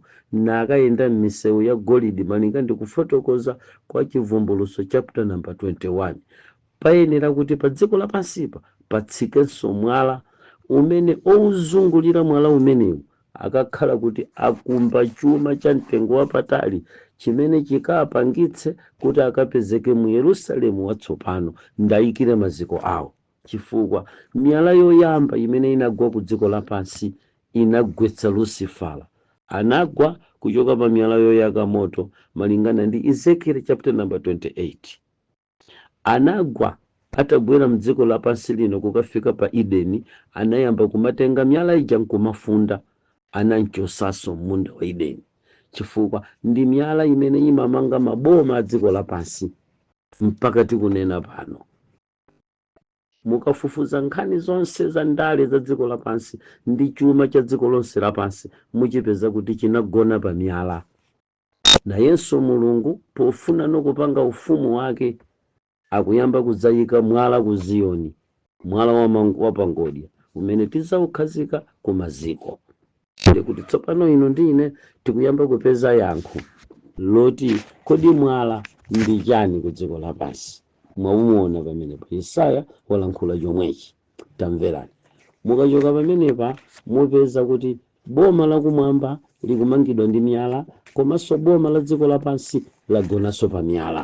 nakayenda m'miseu yagolidi malinga ndi kufotokoza kwa Chibvumbulutso chaputa namba 21, payenera kuti pa dziko lapansipa patsikenso mwala umene ouzungulira mwala umenewu akakhala kuti akumba chuma cha mtengo wapatali chimene chikapangitse kuti akapezeke mu Yerusalemu Watsopano, ndaikire maziko ao. Chifukwa, miyala yoyamba imene inagwa ku dziko lapansi inagwetsa Lusifara. Anagwa kuchoka pa miyala yoyaka moto, malingana ndi Ezekiele chapta namba 28. Anagwa, atagwera mdziko lapansi lino kukafika pa Edeni, anayamba kumatenga miyala ija nkumafunda. Anamchosanso mmunda wa Edeni. Chifukwa, ndi miyala imene imamanga maboma a dziko lapansi, mpaka tikunena pano. mukafufuza nkhani zonse za ndale za dziko lapansi ndi chuma cha dziko lonse lapansi muchipeza kuti chinagona pa miyala nayenso mulungu pofuna nikupanga ufumu wake akuyamba kudzayika mwala ku ziyoni mwala wapangodya umene tidzaukhazika ku maziko Ndiye kuti tsopano inu ndi ine tikuyamba kupeza yankho loti kodi mwala ndi chani ku dziko lapansi mwaumuona pamenepa yesaya walankhula chomwechi tamverani mukachoka pamenepa mupeza kuti boma lakumwamba likumangidwa ndi miyala komanso boma la dziko lapansi lagonanso pa miyala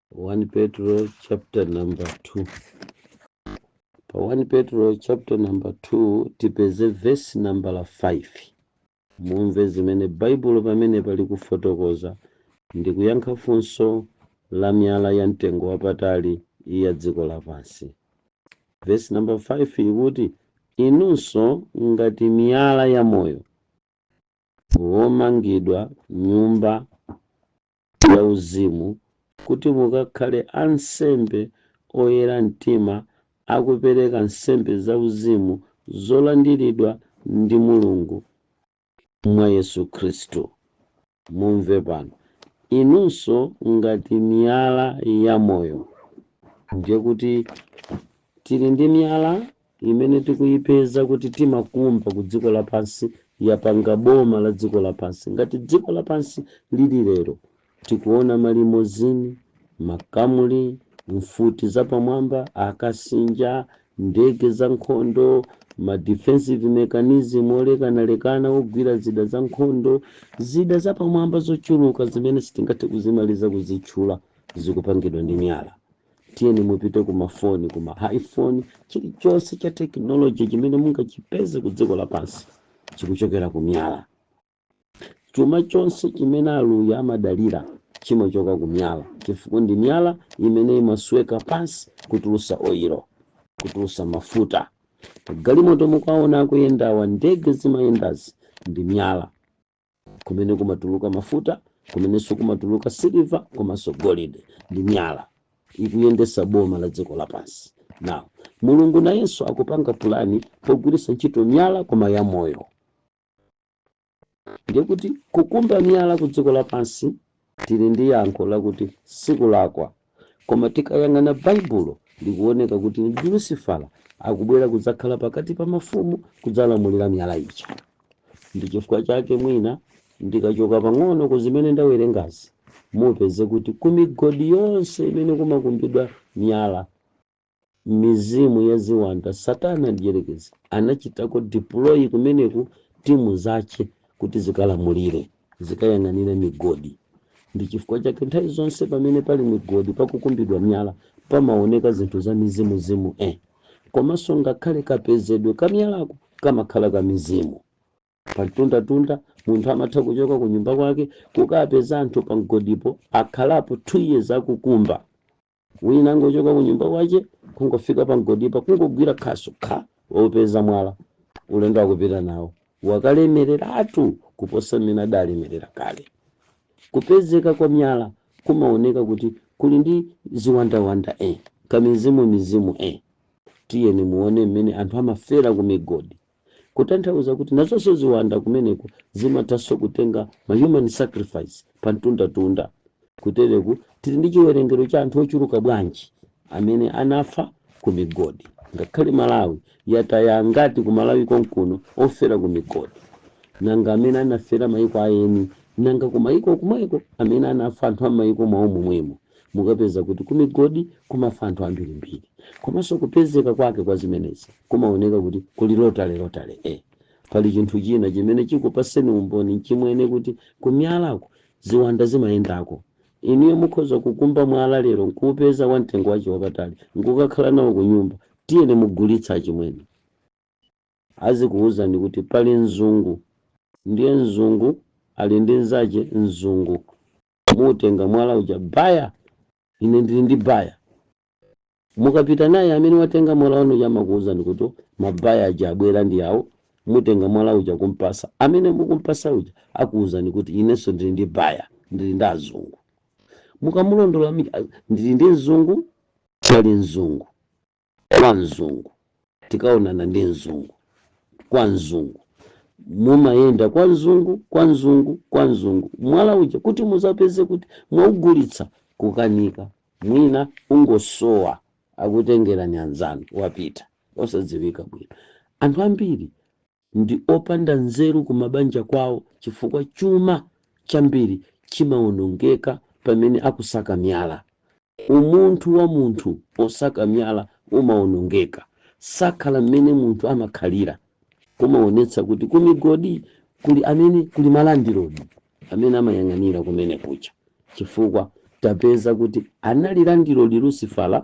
1 Petro chapter number 2 pa 1 Petro chapter number 2 tipeze verse number 5 mumve zimene baibulo pamene palikufotokoza ndi kuyankha funso la miyala ya mtengo wapatali ya dziko lapansi verse number 5 ikuti inunso ngati miyala ya moyo womangidwa nyumba yauzimu kuti mukakhale ansembe oyera mtima akupereka nsembe zauzimu zolandiridwa ndi Mulungu mwa Yesu Khristu. Mumve pano, inunso ngati miyala yamoyo, ndiye kuti tili ndi miyala imene tikuyipeza kuti timakumba ku dziko lapansi yapanga boma la dziko lapansi. Ngati dziko lapansi lili lero, tikuona ma limozini, makamuli, mfuti za pamwamba, akasinja, ndege za nkhondo, ma defensive mechanism olekanalekana ogwira zida za nkhondo, zida za pamwamba zochuluka zimene sitingathe kuzimaliza kuzitchula zikupangidwa ndi miyala. tiyeni mupite ku mafoni ku ma iphone chilichonse cha tekinoloji chimene mungachipeze ku dziko lapansi chikuchokera ku miyala chuma chonse chimene aluya amadalira chimachoka ku miyala chifukwa ndi miyala imene imasweka pansi kutulusa oyilo kutulusa mafuta magalimoto mukuwaona akuyendawa ndege zimayendazi ndi miyala kumene kumatuluka mafuta kumenenso kumatuluka siliva komanso golide ndi miyala ikuyendesa boma la dziko lapansi now mulungu nayenso akupanga pulani pogwiritsa ntchito miyala koma ya moyo ndiye kuti kukumba miyala ku dziko lapansi Tili ndi yankho lakuti sikulakwa. Koma tikayang'ana Baibulo, likuoneka kuti ndi Lusifala akubwera kudzakhala pakati pa mafumu kudzalamulira miyala ija. Ndi chifukwa chake mwina ndikachoka pang'ono ku zimene ndawerengazi, mupeze kuti ku migodi yonse imene kumakumbidwa miyala, mizimu ya ziwanda, Satana Mdyerekezi anachitako deploy kumeneku timu zache kuti zikalamulire, zikayang'anire migodi. Ndi chifukwa chake nthawi zonse pamene pali migodi pakukumbidwa miyala pamaoneka zinthu za mizimuzimu eh. Komanso ngakhale kapezedwe ka miyalako kamakhala ka mizimu. Pa mtundatunda munthu amatha kuchoka ku nyumba kwake kukapeza anthu pa mgodipo akhalapo 2 years akukumba. Wina angochoka kunyumba kwache kungofika pa mgodipo kungogwira khasu kha wopeza mwala ulendo akupita nawo wakalemereratu kuposa mmene adalemerera kale. Kupezeka kwa myala kumaoneka kuti kuli ndi ziwandawanda e, kamizimumizimu e. Tiyeni muone mmene anthu amafera ku migodi. Kutanthauza kuti nazonso ziwanda kumeneko zimathanso kutenga ma human sacrifice pa mtunda tunda. Kutereku tili ndi chiwerengero cha anthu ochuluka bwanji amene anafa ku migodi. Ngakhale Malawi yataya angati ku Malawi konkuno ofera ku migodi. Nanga amene anafera maiko a eni. Nanga ku maiko kumweko amene anafa anthu a mmaiko mwawo momwemo. Mukapeza kuti ku migodi kumafa anthu ambirimbiri komanso kupezeka kwake kwa zimenezi kumaoneka kuti kuli lotalelotale, e Pali chinthu china chimene chikupaseni umboni chimwene kuti ku miyalako ziwanda zimayendako. Inuyo mukhoza kukumba mwala lero nkuupeza wa mtengo wache wapatali nkukakhala nawo kunyumba. Tiyeni mugulitse achimwene. Azikuuzani kuti pali mzungu ndiye mzungu ali ndi nzache mzungu. mutenga mwala uja baya ine ndili ndi baya mukapita naye amene watenga mwala wanu uja amakuwuzani kuti mabaya aja abwera ndi awo mutenga mwala uja kumpasa amene mukumpasa uja akuwuzani kuti inenso ndili ndi baya ndili ndi azungu mukamulondola mi- a- ndili ndi mzungu pali mzungu kwa mzungu tikaonana ndi mzungu kwa mzungu mumayenda kwa mzungu kwa mzungu kwa mzungu mwala uja kuti muzapeze kuti mwaugulitsa kukanika mwina ungosowa akutengerani anzanu wapita osadziwika bwino anthu ambiri Ndi opanda nzeru ku mabanja kwawo chifukwa chuma chambiri chimawonongeka pamene akusaka miyala. Umunthu wa munthu osaka miyala umawonongeka. Sakhala mmene munthu amakhalira. Kumaonetsa kuti ku migodi kuli amene kuli malandilodi. amene amayang'anira kumene kuja, chifukwa tapeza kuti analandilidwadi Lusifala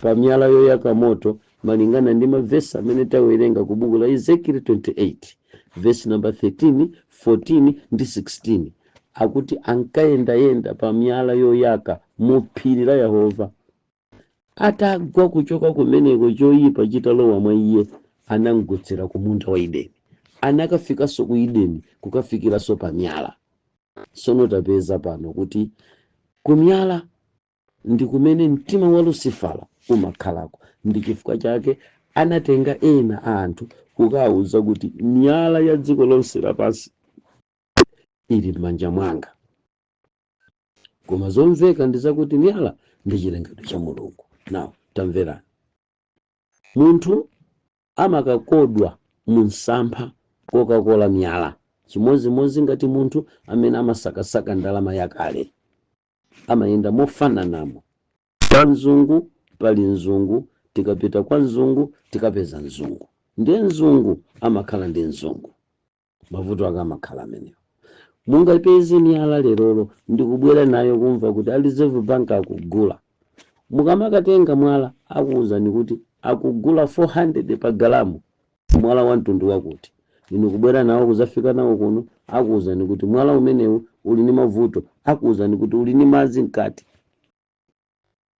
pa miyala yoyaka moto malingana ndi mavesi amene tawerenga ku buku la Ezekiel 28 vesi namba 13, 14 ndi 16 akuti ankayendayenda pa miyala yoyaka mu phiri la Yehova. atagwa kuchoka kumeneko, choyipa chitalowa mwa iye, anamgwetsera ku munda wa Edeni. Anakafikanso ku Edeni, kukafikiranso pa miyala. Tsono tapeza pano kuti ku miyala ndi kumene mtima wa Lusifala umakhalako. Ndi chifukwa chake anatenga ena anthu kukawauza kuti miyala ya dziko lonse lapansi ili m'manja mwanga. koma zomveka ndi zakuti miyala ndi chilengedwe cha mulungu now tamverani munthu amakakodwa mu msampha kokakola miyala chimodzimodzi ngati munthu amene amasakasaka ndalama yakale amayenda mofananamo kwa mzungu pali mzungu tikapita kwa mzungu tikapeza mzungu ndiye mzungu amakhala ndi mzungu mavuto ake amakhala amenewo mungapeze miyala lerolo ndikubwera nayo kumva kuti a reserve bank akugula mukamakatenga mwala akuwuzani kuti akugula 400 pa galamu mwala wa mtundu wakuti inu kubwera nawo kuzafika nawo kuno akuwuzani kuti mwala umenewu uli ndi mavuto akuwuzani kuti uli ndi madzi mkati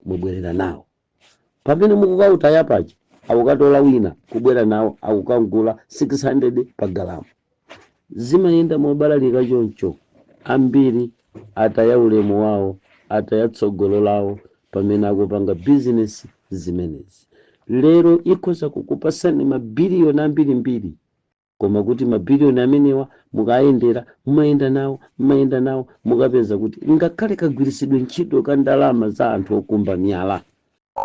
mubwerera nawo pamene mukukautaya paja akukatola wina kubwera nawo akukagula 600 pa galamu zimayenda mobalalika choncho ambiri ataya ulemu wawo ataya tsogolo lawo pamene akupanga bizinesi zimenezi lero ikhoza kukupasani mabiliyoni ambirimbiri Koma kuti mabiliyoni amenewa mukayendera, mumayenda nawo, mumayenda nawo, mukapeza kuti ngakhale kagwiritsidwe ntchito ka ndalama za anthu okumba miyala,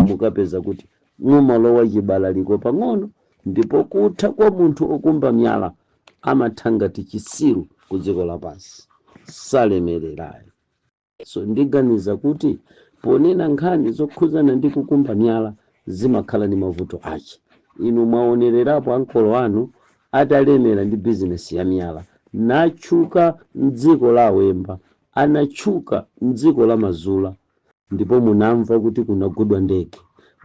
mukapeza kuti mumalowa chibalaliko pang'ono, ndipo kutha kwa munthu okumba miyala amatha ngati chisiru ku dziko lapansi, salemerera ayi. So ndiganiza kuti ponena nkhani zokhudzana ndi kukumba miyala zimakhala ndi mavuto ache. Inu mwaonererapo ankolo anu atalemera ndi bizinesi ya miyala, natchuka m'dziko la Awemba, anatchuka m'dziko la Mazula, ndipo munamva kuti kunagudwa ndege,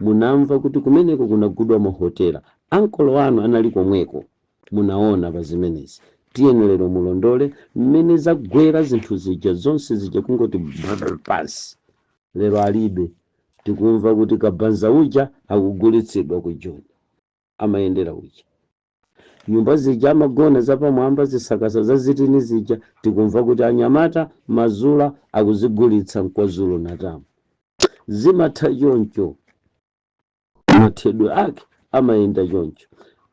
munamva kuti kumeneko kunagudwa mahotela, ankolo anu anali komweko. munaona pa zimenezi. Tiyeni lero mulondole mmene zagwera zinthu zija zonse zija kungoti brrr pansi. Lero alibe. Tikumva kuti Kabanza uja akugulitsidwa ku Joni. Amayendera uja. Nyumba zija amagona zapamwamba zisakasa za zitini zija tikumva kuti anyamata, Mazula, akuzigulitsa mKwaZulu Natal. Zimatha choncho. mathedwe ake amayenda choncho.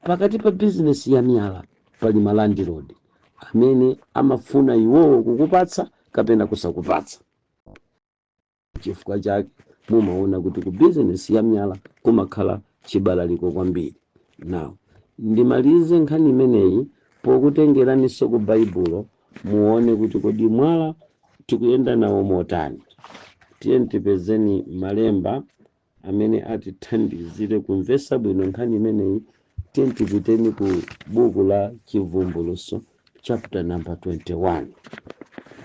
Pakati pa bizinesi ya myala pali malandilodi amene amafuna iwowo kukupatsa kapena kusakupatsa. N'chifukwa chake mumaona kuti ku bizinesi ya myala kumakhala chibalaliko kwambiri. Now, ndimalize nkhani imeneyi pokutengeraniso ku Baibulo muone kuti kodi mwala tikuyenda nawo motani. Tiyeni tipezeni malemba amene atithandizire kumvetsa bwino nkhani imeneyi, tiyeni tipiteni ku buku la Chivumbulutso chapter number 21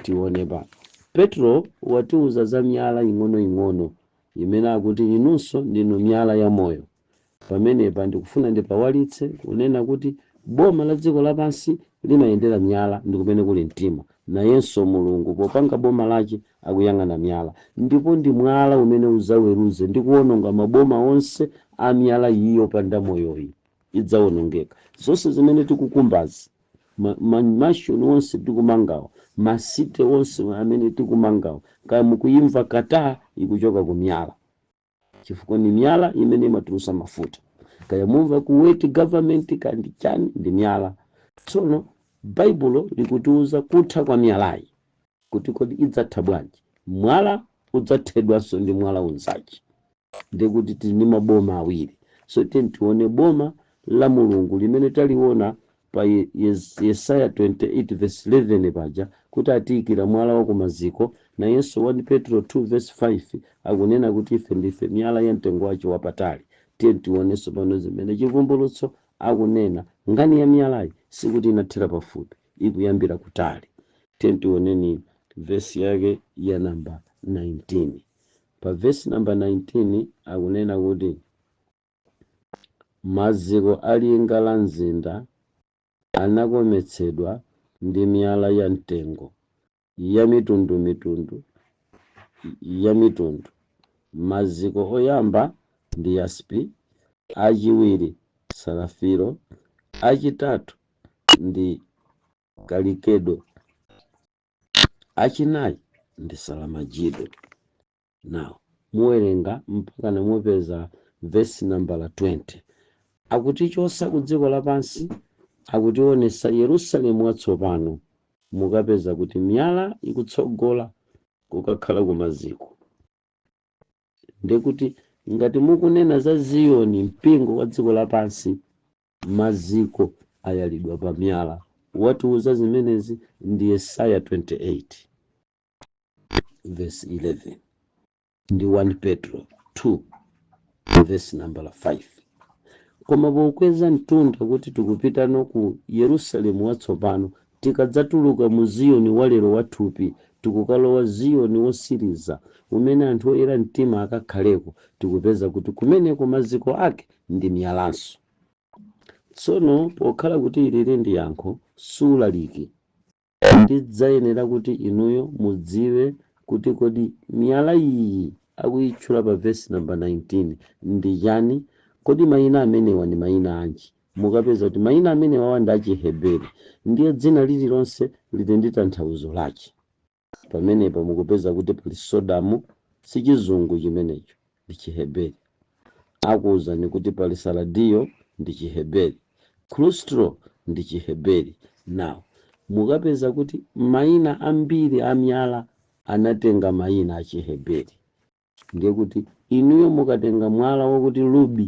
tione pa Petro watiuza za miyala ing'onoing'ono imene akuti inunso ndinu miyala ya moyo. Pamenepa ndikufuna ndipawalitse kunena kuti boma la dziko lapansi limayendera miyala ndikumene kuli mtima. Nayenso Mulungu popanga boma lache akuyang'ana miyala. Ndipo ndi mwala umene udzaweruze ndi kuononga maboma onse a miyala iyo yopanda moyoyi idzaonongeka. Zonse zimene tikukumbazi, ma mansion onse tikumangawa, ma city onse amene tikumangawa, kaya mukuimva Qatar ikuchoka ku miyala. chifukwa ni myala imene imatulusa mafuta kaya mumva Kuwait government kandi chani ndi myala tsono baibulo likutiuza kutha kwa myalayi kuti kodi idzatha bwanji mwala udzathedwanso ndi mwala unzace ndikuti tili ndi maboma awiri so tiyeni tione boma la mulungu limene taliona pa Yesaya 28 vesi 11 paja kuti atiikira mwala wa kumaziko, nayenso 1 Petro 2 vesi 5 akunena kuti ife ndife miyala ya mtengo wace wapatali. Tiye tione tsopano zimene Chivumbulutso akunena. Nkhani ya miyalayi sikuti inathera pafupi, ikuyambira kutali. Tiye tioneni vesi yake ya namba 19. Pa vesi namba 19 akunena kuti. Maziko a linga la mzinda anakometsedwa ndi miyala ya mtengo yamitundumitundu yamitundu. Maziko oyamba ndi yaspi, achiwiri sarafiro, achitatu ndi kalikedo, achinayi ndi saramajido. Now, muwerenga mpakana mupeza vesi nambala 20. Akutichosa kudziko lapansi akutionesa Yerusalemu watsopano mukapeza kuti miyala ikutsogola kukakhala kumaziko. Ndekuti ngati mukunena za Ziyoni mpingo wa dziko lapansi maziko ayalidwa pa miyala. Watiuza zimenezi ndi Yesaya 28. verse 11 ndi 1 petro 2 verse nambala 5 koma pokweza mtunda kuti tikupitano ku yerusalemu watsopano tikadzatuluka mu ziyoni walero wathupi tikukalowa ziyoni wotsiriza umene anthu oyera mtima akakhaleko tikupeza kuti kumeneko maziko ake ndi miyalanso tsono pokhala kuti ilili ndi yankho sulaliki Ndidzayenera kuti inuyo mudziwe kuti kodi miyala iyi akuyitchula pa vesi namba 19 ndi chani. Kodi mayina amenewa ndi mayina anji? Mukapeza kuti mayina amenewa ndi a Chiheberi ndiye dzina lililonse lili ndi tanthauzo lache. Pamenepa mukupeza kuti pali Sodamu, sichizungu chimenecho. ndi Chiheberi. Akuwuzani kuti pali sardiyo ndi Chiheberi, krustalo ndi Chiheberi. Now mukapeza kuti mayina ambiri a miyala anatenga mayina a Chiheberi, ndiye kuti inuyo mukatenga mwala wakuti rubi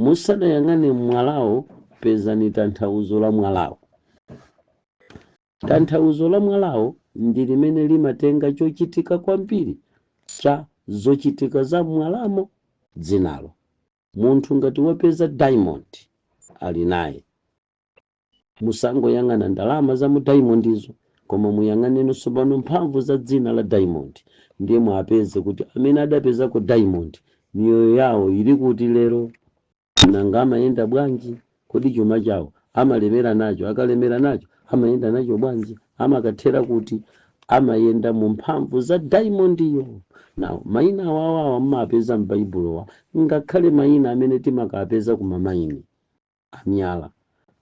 Musadayang'ane mwalawo, pezani tanthauzo la mwalawo. Tanthauzo la mwalawo ndi limene limatenga chochitika kwambiri cha zochitika za m'mwalamo dzinalo. Munthu ngati wapeza diamond, ali naye. Musangoyang'ana ndalama za mu daimondizo, koma muyang'aneno tsopano mphamvu za dzina la daimondi, ndiye muwapeze kuti amene adapezako daimondi, miyoyo yawo ili kuti lero? Nanga amayenda bwanji? Kodi chuma chawo amalemera nacho? Akalemera nacho, amayenda nacho bwanji? Amakathera kuti? Amayenda mu mphamvu za daimondiyo. Now, maina awawa mumawapeza m'Baibulowa, ngakhale maina amene timakawapeza ku mamaini. a miyala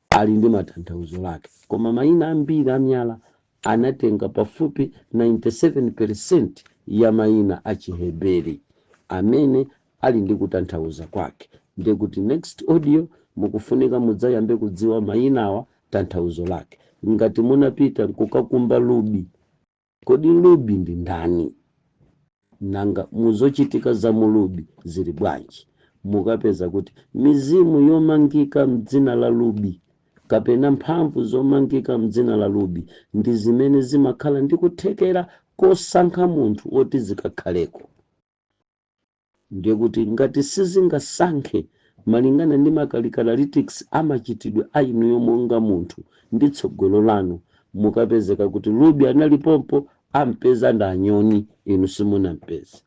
ali ndi matanthauzo lake, koma maina ambiri a miyala anatenga pafupi 97 peresenti ya maina a Chiheberi amene ali ndi kutanthauza kwake. Ndiye kuti next audio mukufunika mudzayambe kudziwa mainawa tanthauzo lake. Ngati munapita kukakumba rubi Kodi Ruby ndi ndani? Nanga mu zochitika za mu Ruby zili bwanji? Mukapeza kuti mizimu yomangika m'dzina la Ruby kapena mphamvu zomangika m'dzina la Ruby ndi zimene zimakhala ndi kuthekera kosankha munthu woti zikakhaleko. Ndiye kuti ngati sizingasankhe malingana ndi makalakitalistics a machitidwe a inuyo monga munthu ndi tsogolo lanu, mukapezeka kuti Ruby analipompo, ampeza ndi anyoni, inu simunampeze.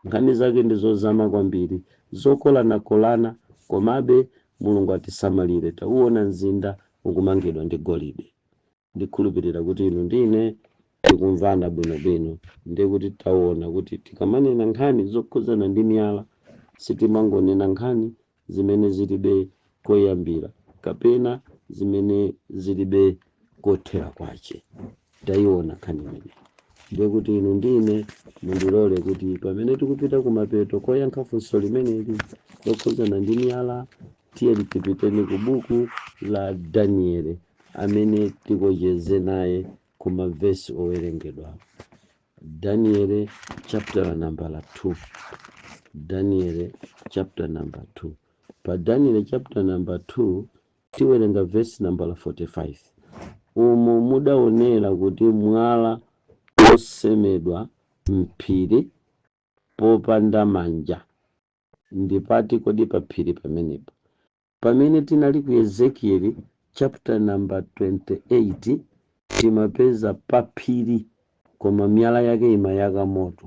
Nkhani zake ndi zozama kwambiri, zokolanakolana, komabe Mulungu atisamalire, tauona mzinda ukumangidwa ndi golide. ndikhulupirira kuti inu ndi ine tikumvana bwinobwino ndiye kuti taona kuti tikamanena nkhani zokhudzana ndi miyala sitimangonena nkhani zimene zilibe koyambira kapena zimene zilibe kothera kwace tayiona nkhani imeneyi ndiye kuti inu ndi ine mundilole kuti pamene tikupita kumapeto koyankha funso limeneli lokhudzana ndi miyala Tiyeni tipiteni ku buku la Daniele amene tikocheze naye ku mavesi owerengedwa Daniele chapter nambala 2 Daniele chapter number 2 pa Daniele chapter number 2 tiwerenga vesi nambala 45 umo mudaonera kuti mwala wosemedwa m'phiri popanda manja Ndi pati kodi pa phiri pamenepo? Pamene tinali ku Ezekieli, chapter number 28, timapeza pa phiri koma miyala yake imayaka moto.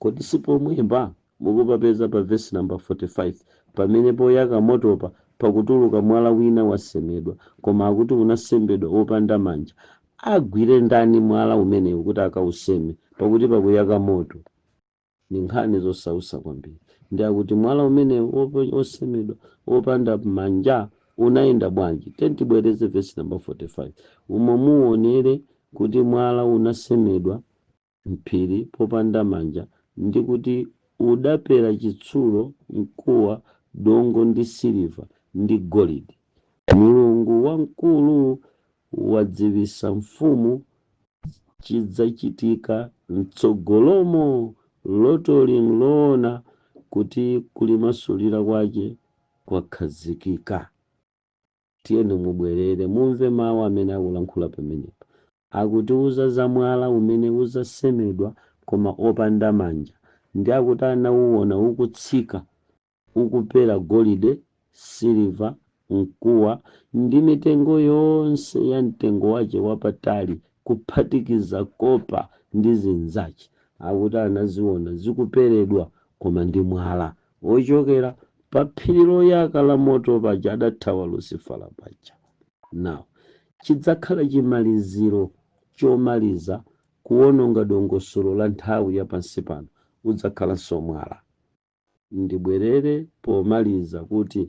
Kodi si pomwepa mukupapeza pa vesi namba 45 pamene poyaka motopa pakutuluka mwala wina wasemedwa koma akuti unasemedwa wopanda manja? Agwire ndani mwala umenewu kuti akauseme pakuti pakuyaka moto? Ndi nkhani zosausa kwambiri ndi akuti mwala umenewu wosemedwa wopanda manja unayenda bwanji? Tiyeni tibwereze vesi namba 45 umo muwonere kuti mwala unasemedwa m'phiri popanda manja ndi kuti udapera chitsulo, mkuwa, dongo ndi siliva ndi golidi. Mulungu wamkulu wadziwitsa mfumu chidzachitika m'tsogolomo. Lotoli n'loona kuti kulimasulira kwache kwakhazikika. Tiyeni mubwerere, mumve mau amene akulankhula pamenepa. Akutiuza za mwala umene udzasemedwa koma opanda manja, ndi akuti anauona ukutsika ukupera golide, siliva, mkuwa, ndi mitengo yonse ya mtengo wache wapatali, kuphatikiza kopa ndi zinzache, akuti anaziona zikuperedwa, koma ndi mwala, wochokera pa phiri loyaka la moto paja adathawa Lusifala paja. Now chidzakhala chimaliziro chomaliza kuwononga dongosolo la nthawi ya pansi pano, udzakhalanso mwala. ndibwerere pomaliza kuti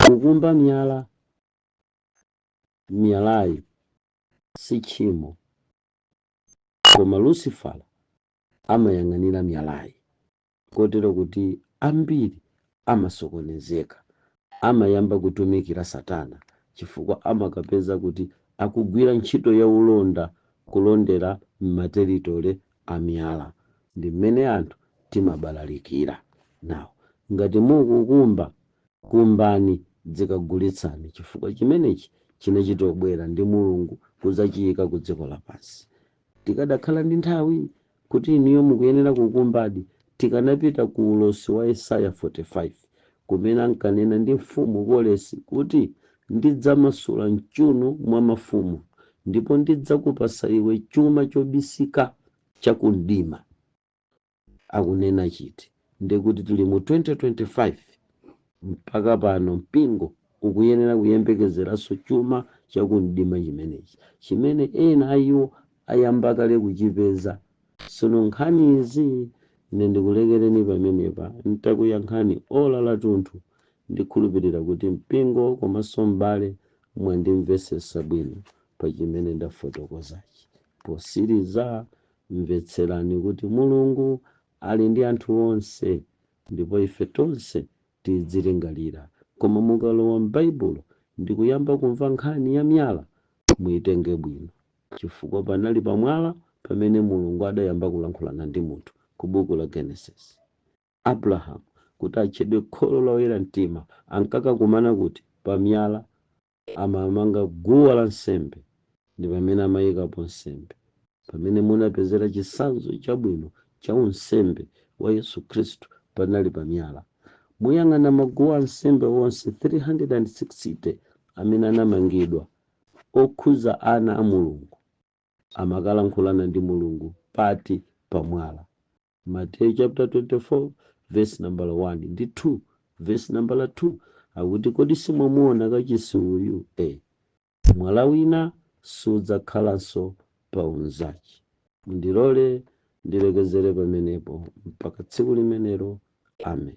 kukumba miyala miyalayi si tchimo koma lusifala amayang'anira miyalayi kotero kuti ambiri amasokonezeka. Amayamba kutumikira Satana chifukwa amakapeza kuti akugwira ntchito ya ulonda kulondera m'materitole a miyala. Ndi mmene anthu timabalalikira. Now, ngati mukukumba, kumbani dzikagulitsani chifukwa chimenechi chinachitobwera ndi Mulungu kudzachiyika ku dziko lapansi. Tikadakhala ndi nthawi, kuti inuyo mukuyenera kukumbadi, tikanapita ku ulosi wa Yesaya 45, kumene ankanena ndi Mfumu Koresi kuti, Ndidzamasula m'chuuno mwa mafumu, ndipo ndidzakupatsa iwe chuma chobisika cha kumdima. akunena chiti? Ndekuti tili mu 2025 mpaka pano mpingo ukuyenera kuyembekezeranso chuma cha ku mdima chimenechi chimene ena a iwo ayamba kale kuchipeza. Tsono nkhani izi ine ndikulekereni pamenepa n'takuyankhani ola lathunthu. Ndikhulupirira kuti mpingo komanso m'bale mwandimvetsetsa bwino pa chimene ndafotokozachi. Potsiriza, Mvetserani kuti Mulungu ali ndi anthu onse, ndipo ife tonse tidzilingalira. Koma mukalowa m'Baibulo ndi kuyamba kumva nkhani ya miyala, muitenge bwino, chifukwa panali pa mwala pamene Mulungu adayamba kulankhulana ndi munthu ku buku la Genesis. Abrahamu, kuti atchedwe kholo la oyera mtima, ankakakumana kuti? Pa miyala. amaamanga guwa la nsembe ndi pamene amayikapo nsembe. Pamene munapezera chitsanzo chabwino cha unsembe wa Yesu Khristu panali pa miyala. Muyang'ana maguwa ansembe onse 360 amene anamangidwa okhudza ana a Mulungu amakalankhulana ndi Mulungu pati pa mwala. Mateyu chaputala 24 vesi nambala 1 ndi 2 vesi nambala 2 akuti, Kodi simwamuona kachisi uyu? e Mwala wina sudzakhalanso pa unzache. Mundilole ndilekezere pamenepo mpaka tsiku limenelo. Amen.